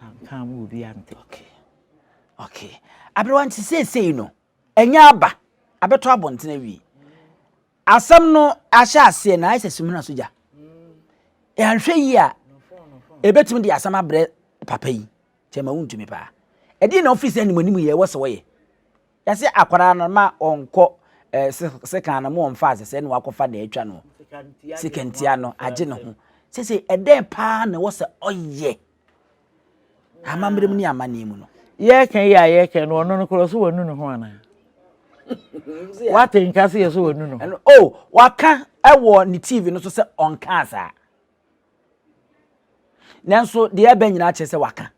anka mu obi a nte. Okay. Okay. Aberewa nti seesei no. Anya aba abɛtɔ abɔnten awie. Asɛm no ahyɛ aseɛ na ayɛ sɛ sumina so gya. Yɛanhwɛ yie a, ɛbɛtumi de asɛm abrɛ papa yi. Kyɛ ma wontumi paa. Ɛdeɛ na ɔfiri sɛ animanimu yɛ ɛwɔ sɛ wɔyɛ. Yɛsɛ akwadaa no ma ɔnkɔ eh, sekan no ma ɔmfa ase sɛ na wakɔfa na atwa no. Sekantia no agye ne ho. Sɛ sɛ ɛdɛn paa na ɛwɔ sɛ ɔyɛ. Amammerɛ mu ne amanneɛ mu no. Yɛreka yi a yɛreka no ɔno no korɔ so wanu ne ho anaa? Wate nka se yɛ so wanu ne ho? Ɛno o waka wɔ ne TV no so sɛ ɔnkaa saa. Nanso deɛ ɛbɛ nyinaa kyerɛ sɛ waka.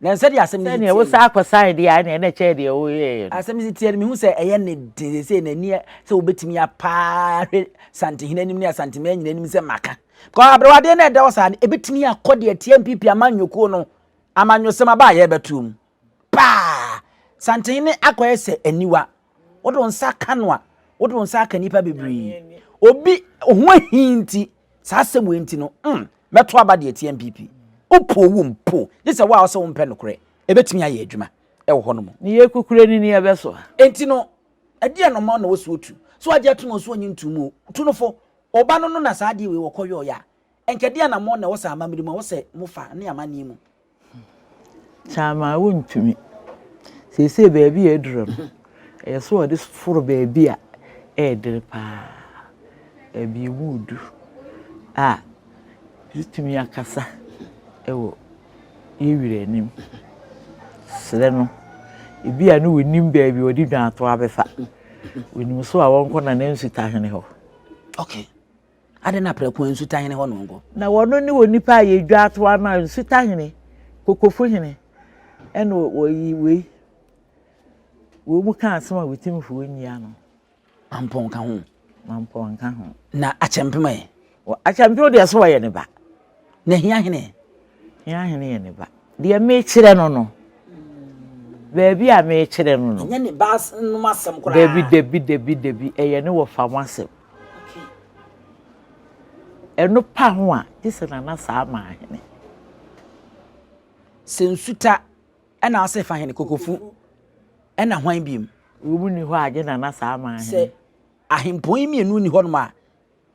Na nsɛ deɛ asɛm no si tie. Wosa akɔ saa deɛ a ɛna ɛkyɛ deɛ woyɛɛ no. Asɛm si tie no mehu sɛ ɛyɛ ne den sɛ n'ani sɛ wobɛtumi apaa hwɛ Santehene anim ne Asanteman nyinaa anim sɛ maka. Kɔ aberewadeɛ no a ɛda hɔ saa no, ɛbɛtumi akɔ deɛ ɛteɛ mpipi amanyɔkuo no amanyɔsɛm aba a yɛrebɛtoɔ mu. Paa! Santen ne akɔyɛ sɛ aniwa. Wode wo nsa ka no a, wode wo nsa aka nnipa bebree. Obi ho ahi nti, saa asɛm wei nti no, mm, mɛto aba deɛ ɛteɛ mpipi. Wopo wo mpo, gye sɛ wo a wosɛ wompɛ nokorɛ. Ɛbɛtumi ayɛ adwuma wɔ hɔ no mu. Ne yɛ kukure ne ni ɛbɛsoa. Enti no, ɛdeɛn na ɔma wo na wo so tu? So agye ato no so ɔnye ntom o, tu no fo. Ɔba no no na saa adeɛ wei wɔkɔ yɔɔyɛ a, ɛnka ɛdeɛ anamɔn na ɛwɔ sɛ amammerɛ mu a ɛwɔ sɛ mo fa ne amanneɛ mu? Kyamaa wontumi. Seesei baabi a aduru no, ɛyɛ sɛ wɔde foro baabi a ɛyɛ dene paa, baabi a emu yɛ duru a yɛtumi akasa wɔ yɛn wura anim. Serɛ no. Ebia na ɔnim baabi a ɔde dwanato abɛfa. Ɔnim so a wɔnkɔ Nana Nsutahene hɔ. Ok. Adɛn na prɛko ara nsutahene hɔ na ɔnkɔ? Na wɔno ne onipa a yɛdwa to ama nsutahene, kokofo hene, ɛna wɔyi wei. Wɔn mu ka asɛm a wɔtimfoɔ nyi ano. Mampɔn ka ho. Mampɔn ka ho. Na akyɛmpem ɛ? Akyɛmpem deɛ so wɔyɛ ne ba. Na hia hene? Yɛn ahene yɛ ne ba. Deɛ mekyerɛ no no, baabi a mekyerɛ no no. Ɛnyɛ ne ba nom asɛm koraa. Dabi, dabi, dabi, dabi, ɛyɛ ne wɔfa ho asɛm. Ɛno pa ho a, gye sɛ nana saa ma ahene. Sɛ nsuta ɛna ase fa hene kokofu ɛna hwan biem. Wɔn mu ni hɔ a, gye nana saa ma ahene. Sɛ ahempɔn yi mmienu ni hɔnom a.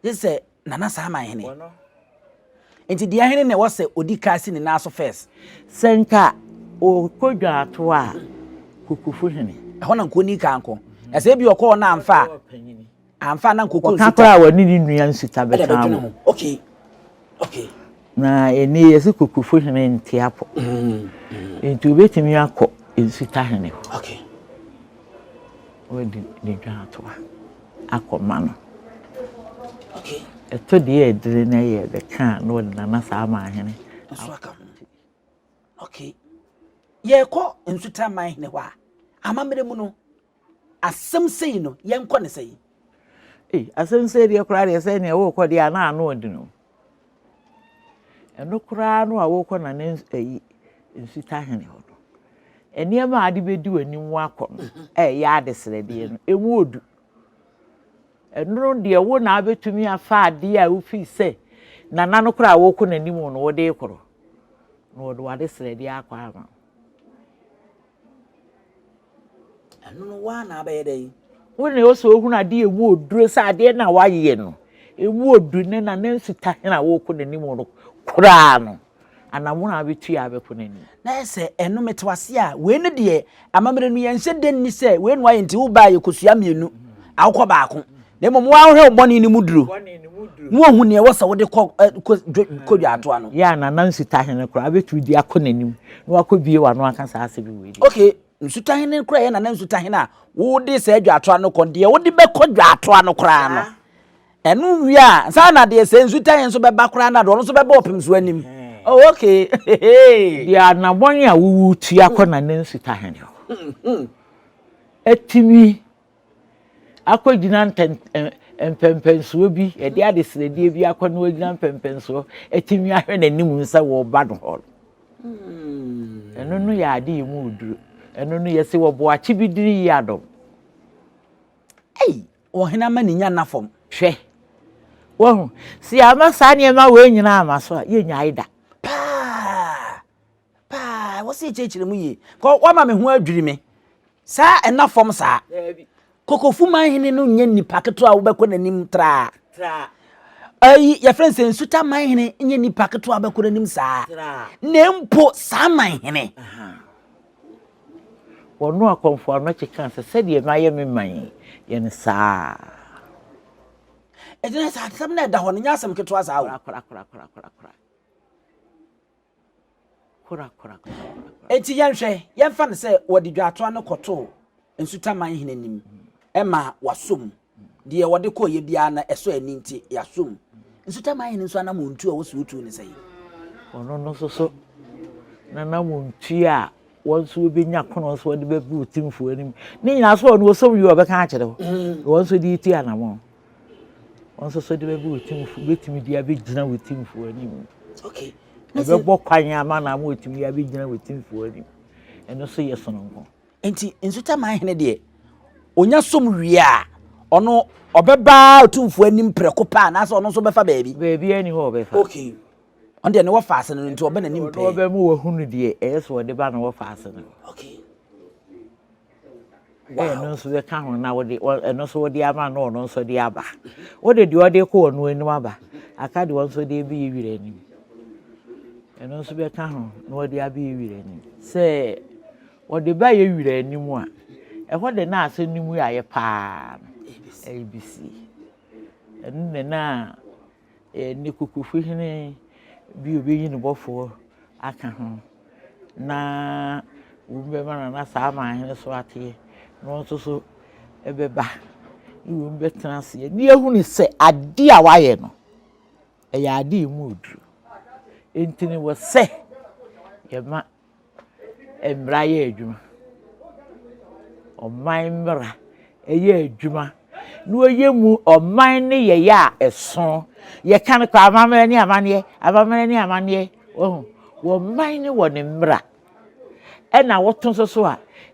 Gye sɛ Nana Saman hene. Nti deɛ hene na ɛwɔ sɛ odi kan si ne nan so first. Sɛ nka ɔkɔ dwaato a, Kokofo hene. Ɛhɔ na nka ɔni kan nkɔ. Na sɛ ebi ɔkɔ hɔ na amfa a, amfa a na nka ɔkɔ nsita. Ɔka koraa a, ɔne ne nua nsita bɛka ho. Okay. Okay. Na ɛnɛ yɛsi kokofo hene nte apɔ. Nti obetumi akɔ nsuta hene hɔ. Okay. Wɔde ne dwa atoa akɔma no. Okay. Ɛtɔ deɛ ɛdere na ɛyɛ ɛdɛ kaa na ɔde nana saa ama ahene. Nso aka ho. Okay. Yɛkɔ nsuta man hene hɔ a amammerɛ mu no Asɛm sei no, yɛnkɔ no sɛn? Ei, asɛm sei deɛ koraa deɛ sɛ nea worekɔ deɛ ana ano ɔden o. Ɛno koraa no a worekɔ na ne ayi nsutahene hɔ no, nneɛma a ade bɛdi w'anim woakɔ no a ɛyɛ adesrɛdeɛ no, ɛmu ɔdu. Ɛno deɛ wo na abɛtumi afa adeɛ a wofii sɛ nana no koraa a worekɔ n'anim no wode rekɔ no, na wɔde w'adesrɛdeɛ akɔ ama wo. Ɛno no waa na abɛyɛ dɛn? Wo ne ɔsɛ ohunu adeɛ ɛmu oduro sɛ adeɛ na wayɛ no ɛmu oduro ne na ne nsuta hena a wɔrekɔ n'anim no koraa no anamono a abɛtu yɛ abɛkɔ n'anim. Na ɛsɛ ɛno mete wase a wei ne deɛ amammerɛ no yɛnhyɛ dɛ nni sɛ wei na wayɛ nti wobaa yɛkɔsua mmienu awokɔ baako na mmom woahwɛ wo bɔne no mu duru na woahu nea ɛwɔ sɛ wode kɔ dwaatoa no yɛ a na na nsutahene koraa bɛtumi de akɔ n'anim na wakɔ bie wano aka saa asɛm yi wei ok nsutahene koraa yɛ na na nsutahene a wode saa dwaatoa no kɔ deɛ wode bɛkɔ dwaatoa no koraa no ɛno wie a saa na deɛ sɛ nsutahene nso bɛba koraa na deɛ ɔno nso bɛbɔ ɔpem so anim oh ok deɛ anabɔne a wowu tua kɔ na na nsutahene hɔ ɛtumi akɔgyina ntɛn ɛn mpɛmpɛnsoɔ bi, yɛde adesrɛdeɛ bi akɔ na wagyina mpɛmpɛnsoɔ atumi ahwɛ n'anim sɛ wɔreba no hɔ no. Ɛno no yɛ ade yɛ mu oduro. Ɛno no yɛse wɔbɔ akye bi dini yi adɔm. Ei, ɔhene ama ne nya nna fam. Hwɛ, wahu, sɛ yɛama saa nneɛma wei nyinaa ama so a, yɛnnyae da. Paa! Paa, ɛwɔ sɛ yɛkyerɛkyerɛ mu yie. Kɔ wama me ho adwiri me. Saa ɛna fam saa. Kokofu man hene no nyɛ nipa ketewa a wobɛkɔ n'anim traa. Ayi, yɛfrɛ sɛ nsuta man hene nyɛ nipa ketewa a wobɛkɔ n'anim saa. Na mpo saa man hene. Wɔno akɔmfo ano kyeka sɛ sɛdeɛ no ayɛ me man yɛ no saa. Ɛgyina sɛ asɛm no ɛda hɔ no nyɛ asɛm ketewa saa o. Enti yɛnhwɛ, yɛmfa no sɛ wɔde dwaatoa no kɔtoo Nsutaman hene anim ma wasɔ mu. Deɛ wɔde kɔeɛ biara no, ɛsɔ ani nti, yɛasɔ mu. Nsutaman hene nso anammɔntuo a wɔsi wotuo ne sɛn? Ɔno no nso so n'anammɔntuo a wɔn nso wɔbɛnya kono nso wɔde bɛgu otimfoɔ anim. Ne nyinaa so ɔno ɔsɔ mu yie ɔbɛka akyerɛ wo, na wɔn nso de retu anammɔn. Wɔn nso so de bɛgu otumfo betumi de abegyina otumfo anim. Okay. Ɛbɛbɔ kwan ama na ama otumi de abegyina otumfo anim. Ɛno so yɛ sononko. Nti nsutaman hene deɛ onya som wie a ɔno ɔbɛba otumfo anim prɛko paa anaasɛ ɔno nso bɛfa baabi. Baabi ani hɔ ɔbɛfa. Okay. Ɔno deɛ ne wɔfa ase no nti ɔbɛ n'anim pɛɛ. Ɔbɛ mu wɔhunu deɛ ɛyɛ so ɔde ba na wɔfa ase no. Okay. sɛ wo ba ketewa. Wode ɛno nso bɛka ho na wode ɛno nso wode ama no na ɔno nso de aba. Wode deɛ ɔde kɔ ɔno anim aba, aka deɛ ɔno nso de abɛyi wira anim. Ɛno nso bɛka ho na ɔde abɛyi wira anim. Sɛ ɔde bɛyɛ wira anim a, ɛhɔ de na asɛm no mu ayɛ paa no, ABC. Ɛno na na ne Kukuhwi hene bi a ɔbɛyi ne bɔfoɔ aka ho na wum bɛma no na saa aman hene so ateɛ na ɔno nso so ɛbɛba ne wum bɛtena aseɛ ne ahunu sɛ adeɛ a wayɛ no ɛyɛ adeɛ mu oduru nti ne wɔ sɛ yɛma mmara yɛ adwuma. Ɔman mmara yɛ adwuma na wɔyɛ mu ɔman no yɛyɛ a ɛso. Yɛka no kɔ amammerɛ ne amanneɛ, amammerɛ ne amanneɛ. Wɔhu wɔn man ne wɔn mmara ɛna wɔto nso so a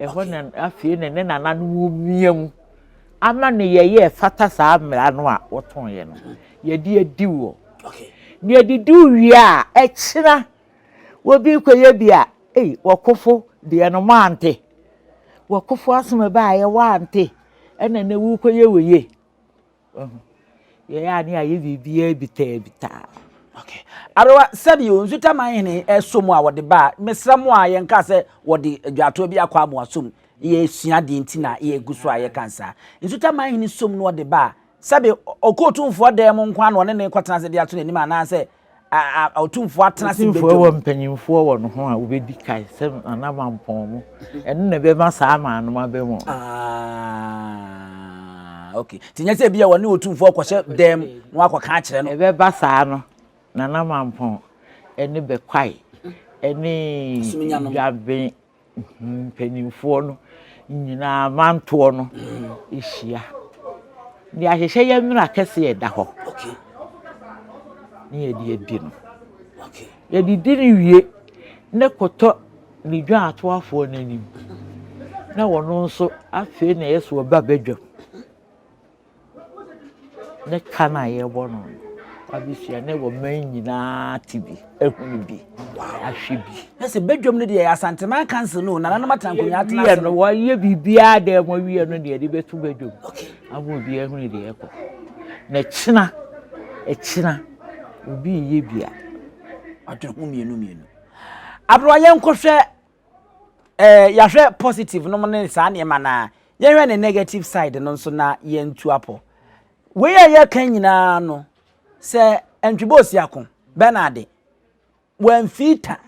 Ɛhɔ na afei na ne nananom wumia mu ama no yɛyɛ ɛfata saa mmara no a wɔtɔnyɛ no yɛde adi wɔ ne adidi wie a ɛkyena wɔbi kɔyɛ bi a ei wɔkofo deɛ no moante wɔkofo asɛm ɛbaeɛ woante ɛna na wokɔyɛ wɔ yie Wahu? Yɛyɛ a ne ayɛ biribiara bitaabitaa. Okay. Aberewa, sɛbi o, Nsutaman hene ɛso mu a wɔde ba a, mesrɛ mo a yɛnka sɛ wɔde adwaatoɔ bi akɔ amoa som. Yɛsua deɛ nti na yɛgu so a yɛka nsaa. Nsutaman hene som no ɔde ba a, sɛbi ɔkɔ otumfoɔ dan mu nko ara na ɔne no rekɔtena ase de ato n'anim anaasɛ A a Otumfoɔ atena ase Otumfoɔ badwam. wɔ mpanyimfoɔ wɔ ne ho a wobɛdi kan sɛ n'anamanpɔn mu. Ɛno na ɛbɛma saa aman no aba mu. Ah, okay. Nti nyɛ sɛ ebi a wɔne Otumfoɔ rekɔhyɛ dɛm na wakɔka akyerɛ no. Ɛbɛba saa no, n'anamanpɔn ne bɛkwae ne Asuminyanom. dwaben mpanimfoɔ no nyinaa mantoɔ no hyia. Deɛ ahyehyɛ yɛ nwera kɛseɛ ɛda hɔ ne yɛde adi no. Yɛde di no wie ne kɔtɔ ne dwaatoafoɔ no anim na wɔn nso afei na ɛyɛ sɛ wɔba badwam. ne ka no a yɛbɔ no no, w'adesua na ɛwɔ mmaa nyinaa te bi, ehunu bi, ahwɛ bi. Na sɛ badwam no deɛ yɛ Asanteman Council no, nananom atena nkonnwa atena ase. no wɔyɛ biribiara dɛ mo awie no deɛ de bɛto badwam. Ama obiara ehunu deɛ ɛkɔ. Na ɛkyina, ɛkyina, obi yɛ bi a, ɔde ho mmienu mmienu. Aberewa yɛnkɔhwɛ Eh, yɛahwɛ positive nom ne saa nneɛma no a, yɛnhwɛ ne negative side no nso na yɛntu apɔ. Wei a yɛka nyinaa no, sɛ Antwibɔ Osiako, Bernard, wamfii ta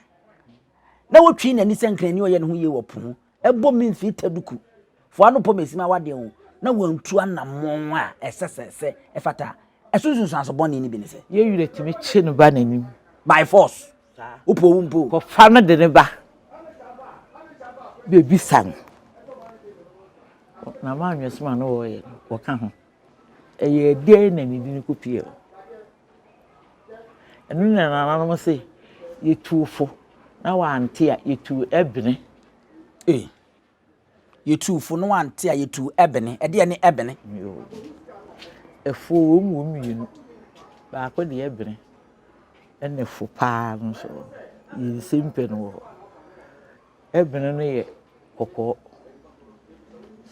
na wotwii n'ani sɛ nkrani ɔyɛ ne ho yie wɔ po ho, ɛbɔ me mfii ta duku fo ano pɔ mesi ma wadeɛ ho na wantu anammɔn a ɛsɛ sɛ sɛ ɛfata a, ɛso nsunsuanso bɔne no bi ne sɛ. Yɛn werɛ tumi kye no ba n'anim. By force. Wopɛ owu mpo. Kɔfa no de no ba bebisa no. Na m'anwesem a na wɔreyɛ no, wɔka ho. Ɛyɛ dɛn na ne din ko pie hɔ? Ɛno na nananom se, yɛtu fo na wante a, yɛtu ɛbene. Ei! Yɛtuu fo no ante a, yɛtuu ɛbene. Ɛdeɛ ne ɛbene? Yoo. Ɛfoɔ wɔ mu wɔ mmienu. Baako deɛ ɛbene ɛna ɛfo paa no nso wɔ hɔ. Yɛ nsɛm pɛ no wɔ hɔ. Ɛbene no yɛ kɔkɔɔ.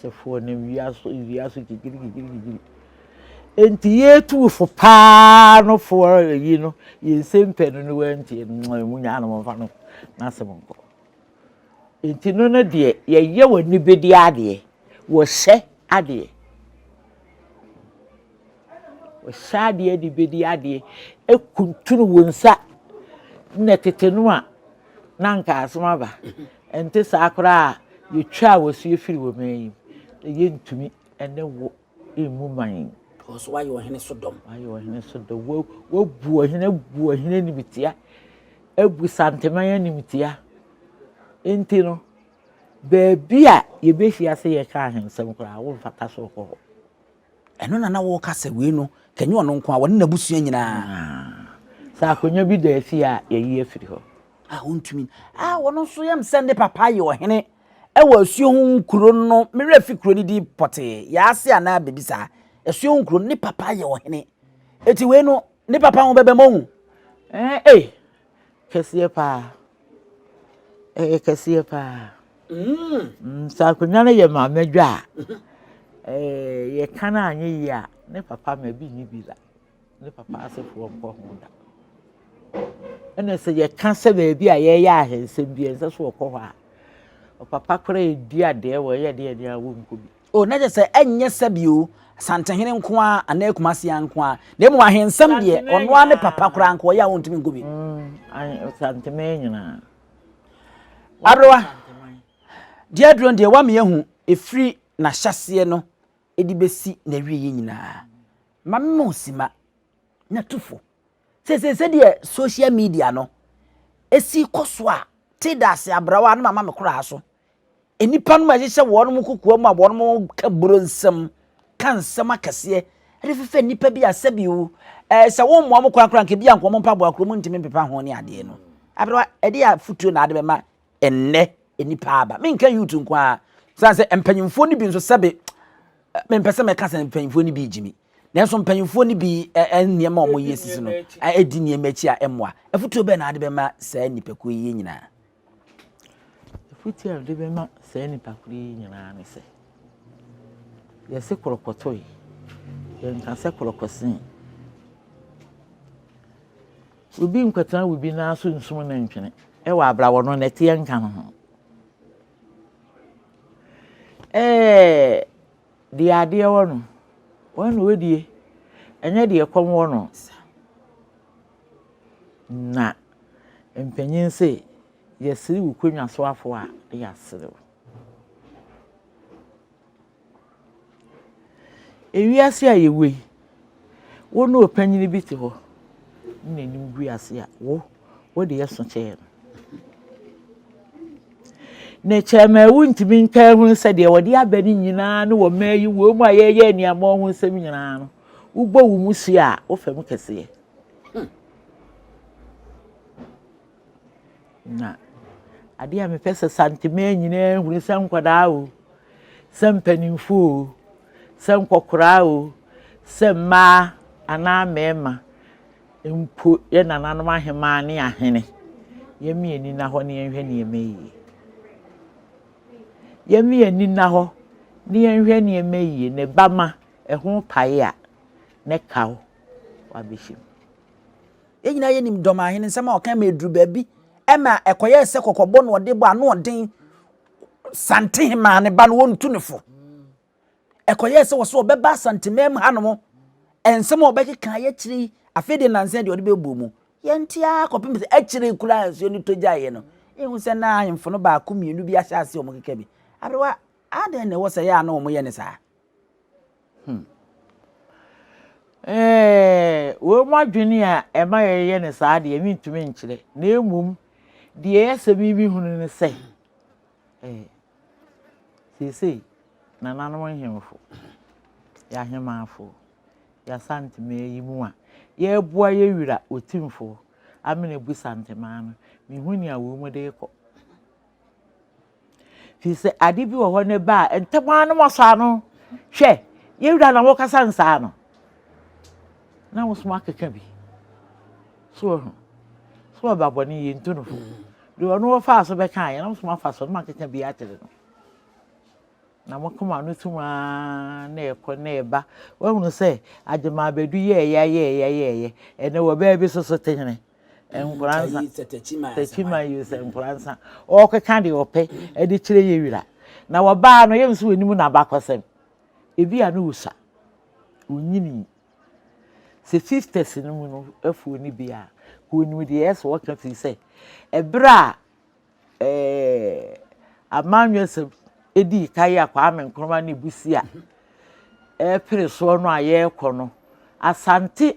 Sɛ foɔ nam wia so, wia so gyigirigirigiri. Enti yɛtuu fo paa no foɔ ayi no, yɛ nsɛm pɛ no ne wantie no, mo nyaa no momfa no n'asɛm nkɔ. Nti no no deɛ yɛyɛ w'anibedeɛ adeɛ, wɔhyɛ adeɛ. Wɔhyɛ adeɛ anibedeɛ adeɛ, ɛkuntunu wɔn nsa. Nna tete no a, na nka asom aba. Ɛnte saa koraa a, yɛtwaa wɔasuo firi wɔn anim. Yɛntumi ne wo. mmu man. Wɔ so ayɛ ɔhene so dɔm. Ayɛ ɔhene so dɔm. Wabu ɔhene abu ɔhene animtia. Abu santeman animtia. Nti no, baabi a yɛbɛhyia sɛ yɛka ahensɛm koraa, womfata so kɔ hɔ. Ɛno na na wɔka sɛ wei no, kanyɛ ɔno nko a, wɔne n'abusua nyinaa. Sɛ akonnwa bi da afie a, yɛyi afiri hɔ. A wontumi. A wɔn nso yam sɛ ne papa yɛ ɔhene. Ɛwɔ asuo ho nkuro no me werɛ fi kuro no din pɔtee yaase anaa biribi saa asuo ho nkuro no ne papa yɛ ɔhene eti wei no ne papa ho bɛbɛ mohu ɛɛ eh, eh, kɛseɛ paa ɛyɛ kɛseɛ paa mm. mm, sɛ akonnwa no yɛ maame adwa a ɛɛ yɛka no anyɛ yie a ne papa ma bi nyi bi la. ne papa asefoɔ nkɔ ho da ɛna sɛ yɛka sɛ baabi a yɛyɛ ahensɛm bi ɛnsɛ so wɔkɔ hɔ a ɔpapa kora ɛdi adeɛ wɔ ɛyɛ deɛ deɛ wɔnkɔ bi o na kyɛ sɛ ɛnyɛ sɛbi o santehene nko a anaa kumasia nko a na mmom ahensɛm deɛ ɔno ara ne papa koraa nko ɔyɛ a wɔntumi nkɔ bi mm, santeman nyinaa aberewa deɛ aduro deɛ wame ahu ɛfiri n'ahyɛseɛ no de besi n'awieeɛ nyinaa. Mma memma wo simma, na tu fo. Seesei sɛdeɛ social media no si kɔ so a, te dase abrawa no mama me koraa so. Nnipa no ɛhyehyɛ wɔn nkokoa mu a wɔka buro nsɛm, ka nsɛm akɛseɛ de fefɛ nnipa bi a sɛbi o, ɛɛ sɛ wɔmmoa mo koraa koraa nka ebi a nka wɔn mpaboa koraa wɔntumi mpepa ho ne adeɛ no. Abrawa, ɛdeɛ afotuo na ade bɛma ɛnnɛ nnipa aba menka youth nko ara sane sɛ mpanyimfoɔ no bi nso sɛbe mempɛ sɛ mɛka sɛ mpanyimfoɔ no bi gyimi nanso mpanyimfoɔ no bi nneɛma a wɔyɛ sisi no ɛdi nneɛma akyi a ɛmmoa afotuo bɛn na ade bɛma saa nnipakuo yi nyinaa afotuo a ade bɛma saa nnipakuo yi nyinaa ne sɛ yɛse korɔkɔtɔe yɛnka sɛ korɔkɔsen Obi nnkɔtsena obi nan so nnsum no ntwene wɔ abra wɔno na ɛteɛ nka no ho. Ɛɛ deɛ adeɛ wɔ no, wɔn na wɔdie, ɛnyɛ deɛ kɔm wɔ no. Na mpanyin se, yɛsere wo konnwa so afoa a, yɛasere wo. Ewiase a yɛwɔ yi, wo ne ɔpanyin bi te hɔ ne n'anim gu ase a, wo wode ɛso kyɛɛ no. Na ɛkyɛ ma wontumi ntaa hunu sɛ deɛ wɔde aba no nyinaa ne wɔ mmaa yi wɔ mu a yɛyɛ nneɛma ho nsɛm nyinaa no, wobɔ wo mu hyia a, wofa mu kɛseɛ. Na adeɛ a mepɛ sɛ Santemaa nyinaa hunu sɛ nkwadaa o, sɛ mpanimfoɔ o, sɛ nkɔkoraa o, sɛ mmaa anaa mmarima mpo, yɛn nananom ahemaa ne ahene, yɛmmi yɛn ani nna hɔ na yɛnhwɛ nneɛma yie. Yɛmmi yɛn ani nna hɔ na yɛnhwɛ nneɛma yie na ɛba ma ɛho pae a na ɛka wo wabɛhyɛ mu. Yɛn nyinaa yɛnim Dɔmahene nsɛm a ɔkae ma ɛduru baabi ɛma ɛkɔyɛɛ sɛ kɔkɔbɔ na ɔde bɔ ano ɔden Santehemaa ne ba no wɔntu ne fo. Ɛkɔyɛɛ sɛ wɔ so ɔbɛba Asantemaa mu hanom nsɛm a ɔbɛkeka yɛ akyire yi afei deɛ nansa deɛ ɔde bɛbɔ mu. Yɛnte ara kɔpem sɛ akyire koraa nsuo no tɔ gyaeɛ no yɛhu sɛ na ahemfo no baako mmienu bi ahyɛ aseɛ wɔn keka bi. Aberewa adɛn na ɛwɔ sɛ yɛ a na wɔyɛ ne saa? Hmm. Ɛɛ, wɔn mu adwene a ɛma yɛyɛ no saa deɛ mentumi nkyerɛ, na mmom deɛ ɛyɛ sɛ me mehunu ne sɛ, ɛɛ, seesei nananom nhemfo, yɛahemafo, yɛasantemaa yi mu a yɛreboa yɛ wura otimfoɔ Amina Abu Santemaa no, mehu nea wɔn mu de rekɔ. Firi sɛ ade bi wɔ hɔ no ba a, ntɛm ara na wɔasɔ ano. Hwɛ, yɛn wura na wɔkasa no saa no. Na wɔsom akeka bi. So wɔ ho. So ɔba bɔne yɛ ntu no fo. Deɛ ɔno wɔfaa so bɛka yɛ na wɔsom afa so na wɔakeka bi akyerɛ no. Na wɔkoma no tum ara na ɛkɔ na ɛba. Wɔahunu sɛ agyemaabɛdu yɛɛyɛ yɛɛyɛ yɛɛyɛ. Ɛnɛ wɔ baabi so so te hene. Nkoransa Tekyima use Nkoransa ɔɔkeka deɛ ɔpɛ ɛde kyerɛ Yewira na wɔbaa no yɛm so wɔnim n'abakɔsɛm ebi a no wosua onyinii sɛ fifties no mu no afuo no bi a wɔnim deɛ ɛsɛ wɔka firi sɛ ɛberɛ a ɛɛ amanyɔsɛm ɛdii ka yɛ a Kwame Nkrumah ne busi a ɛpere soɔ no a yɛrekɔ no Asante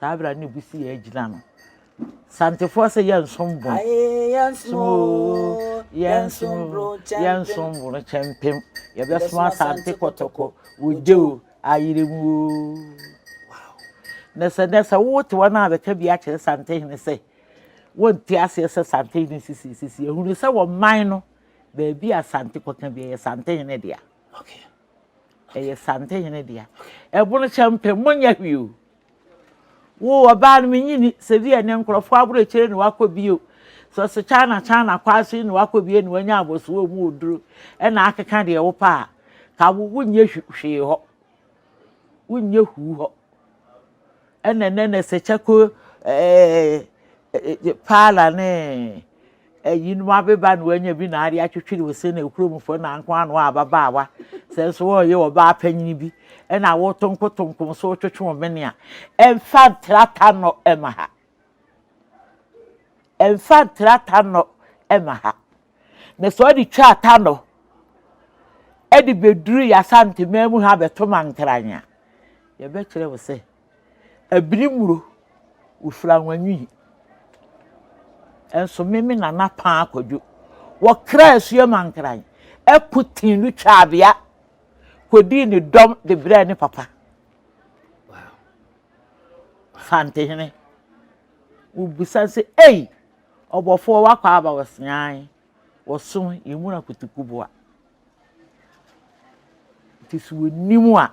saa abira ne bu si yɛ agyina no santefoɔ sɛ yɛnsom bo yɛnsom oo yɛnsom bro yɛnsom bo no kyɛmpem yɛbɛsom asante kɔtɔkɔ wogye o ayere mu oo na sɛ na sɛ wote wɔn a bɛka bi akyerɛ sante hene sɛ wɔnte aseɛ sɛ sante hene sisi sisi ehunu sɛ wɔn man no baabi a sante kɔka bi ɛyɛ sante hene dea ɛyɛ sante hene dea ɛbono kyɛmpem mo nyɛ hwee o. Wo ɔbaa no menye ni sɛ bi ɛnɛ nkorɔfoɔ aborɔkyire na wakɔ bio sɛ ɔsɛ China China kwaa so yi na wakɔ bio na wanya abɔsoɔ wɔ mu oduro ɛna akeka deɛ wo pɛ a ka wo wonyɛ hwee hɔ wonyɛ huu hɔ ɛna ɛnɛ na sɛ kyɛko ɛɛ paala ne Eyinom abeba na wɔanya bi na ade atwetwere wo se na kurom fo na nko ano a ababaawa. Sɛ nso wɔreyɛ ɔbaa panyin bi na awotonkotonkom so retwetwe wo mene a, ɛmfa ntrata nnɔ mma ha. Ɛmfa ntrata nnɔ mma ha. Na sɛ ɔde twa ata nnɔ de beduru yɛ Asanteman mu ha bɛto Mankrany a, yɛbɛkyerɛ wo sɛ Abiri mmuro, wofiri anwanwi yi. Nso me me nana paa kwadwo. Wɔkra asua ma nkran. Ɛko tin no twaa bea. Kɔdii ne dɔm de brɛɛ ne papa. Fantehene. Wobisa sɛ, ei, ɔbɔfoɔ wakɔ aba wɔseae. Wɔso yɛmuna kutukuboa. Nti sɛ wɔnim a,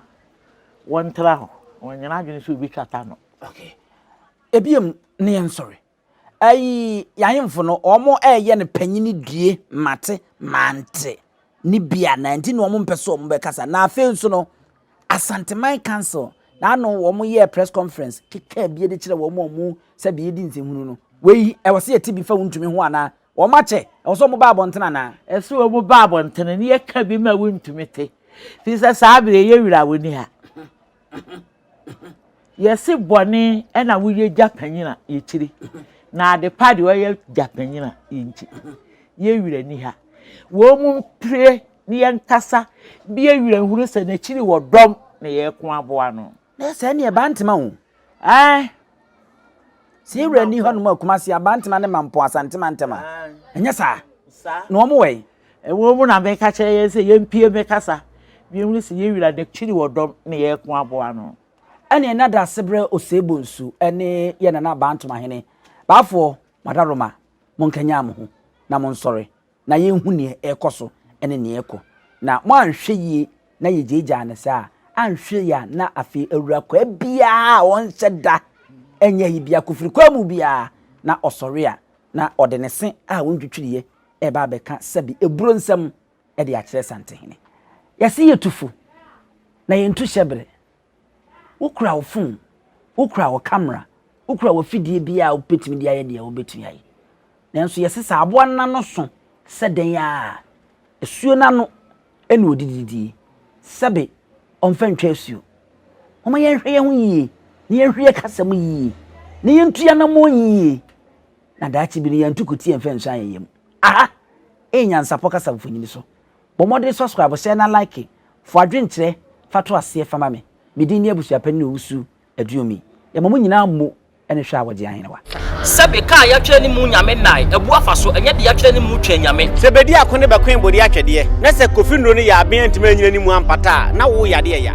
wɔntra hɔ. Wɔnyɛ n'adwene sɛ wɔbɛtwata ano. Okay. Ebiem ne yɛn sɔre. Ayi, yɛahemfo no, wɔn ɛyɛ no panyini due, mate, mante, ne bi a, na nti na wɔn mpɛ sɛ wɔn bɛkasa. Na afei nso no, Asanteman Council, na ano wɔn yɛ press conference, keka bi de kyerɛ wɔn a wɔn sɛ deɛ yɛdi nsɛnhunu no. Wei, ɛwɔ sɛ yɛte bi fa wontumi ho anaa? Wɔakyɛ, ɛwɔ sɛ wɔba abɔnten anaa? Ɛsɛ sɛ wɔba abɔnten na yɛka bi ma wontumi te, ɛfiri sɛ saa berɛ yi yɛn wura ɔnni ha. Yɛse bɔne na woyɛ gya panyin a, yɛkyiri, na ade pa deɛ ɔyɛ gya panyin a, yɛnkyi. Yɛn wura nni ha. Wɔn mpire na yɛnkasa, bi yɛn wura nhunu sɛ n'akyiri wɔ dɔm na yɛko aboa no. Na sɛ ɛne Abantema o. Ae. Sɛ yɛn wura ni hɔ nom a Kumasi Abantema ne Mampo Asante Mantama. Ɛnyɛ saa? Na wɔn wɔ yi. Ɛwɔ mu na meka kyerɛ yɛn sɛ yɛmpie me kasa. Biom ne sɛ yɛn wura de kyiri wɔ dɔm ne yɛn ko aboa no. Ɛne na da ase brɛ Osei Bonsu ne yɛn Nana Abantoma Hene. Baafoɔ, mo adaworoma, mo nkanyan mo ho na mo nsɔre na yɛnhu nea ɛrekɔ so ne nea ɛrekɔ. Na mo anhwɛ yie na yɛgyaagyaa no saa a, anhwɛ yie a na afei awura kwaa biara a ɔnhyɛ da nyɛ ayi biara, kofiri kwaa mu biara, na ɔsɔre a na ɔde ne se a wɔntwitwiriiɛ reba abɛka sɛbe aburo nsɛm de akyerɛ Santehene. Yɛse yɛtu fo na yɛntu hyɛbere. Wokura wo fon, wokura wo kamera, wokura w'afidie biara a wobɛtumi de ayɛ deɛ wobɛtumi ayɛ. Nanso yɛsesa aboa no n'ano so sɛ dɛn a, asuo no ano ɛna ɔdi didie. Sɛbe ɔmfa ntwa asuo. Momma yɛnhwɛ yɛn ho yie, na yɛnhwɛ yɛn kasa mu yie, na yɛntu anammɔn yie, na daakye bi no yɛantu kutie mfa nsu ayɛ yɛn mu. Aha ɛyɛ Nyansapɔ Kasa Mfonini so. Bɔ mmɔden subscribe share na like Fa w'adwenkyerɛ fa to aseɛ fa ma me Me din ne Abusuapanin Owusu Aduomi Yɛma mo nyinaa mmo ne hwɛ a wɔgye ahenewa. Sɛbe kaa yɛatwerɛ ne mu Nyame nnae abu afa so Ɛnyɛ de yɛatwerɛ ne mu Twɛn Nyame. Sɛ bedi ako ne bɛkoe bode atwɛdeɛ Na sɛ Kofi Nnuro no yɛ aben antumi anyina ne mu ampata a na wo yadeɛ ya.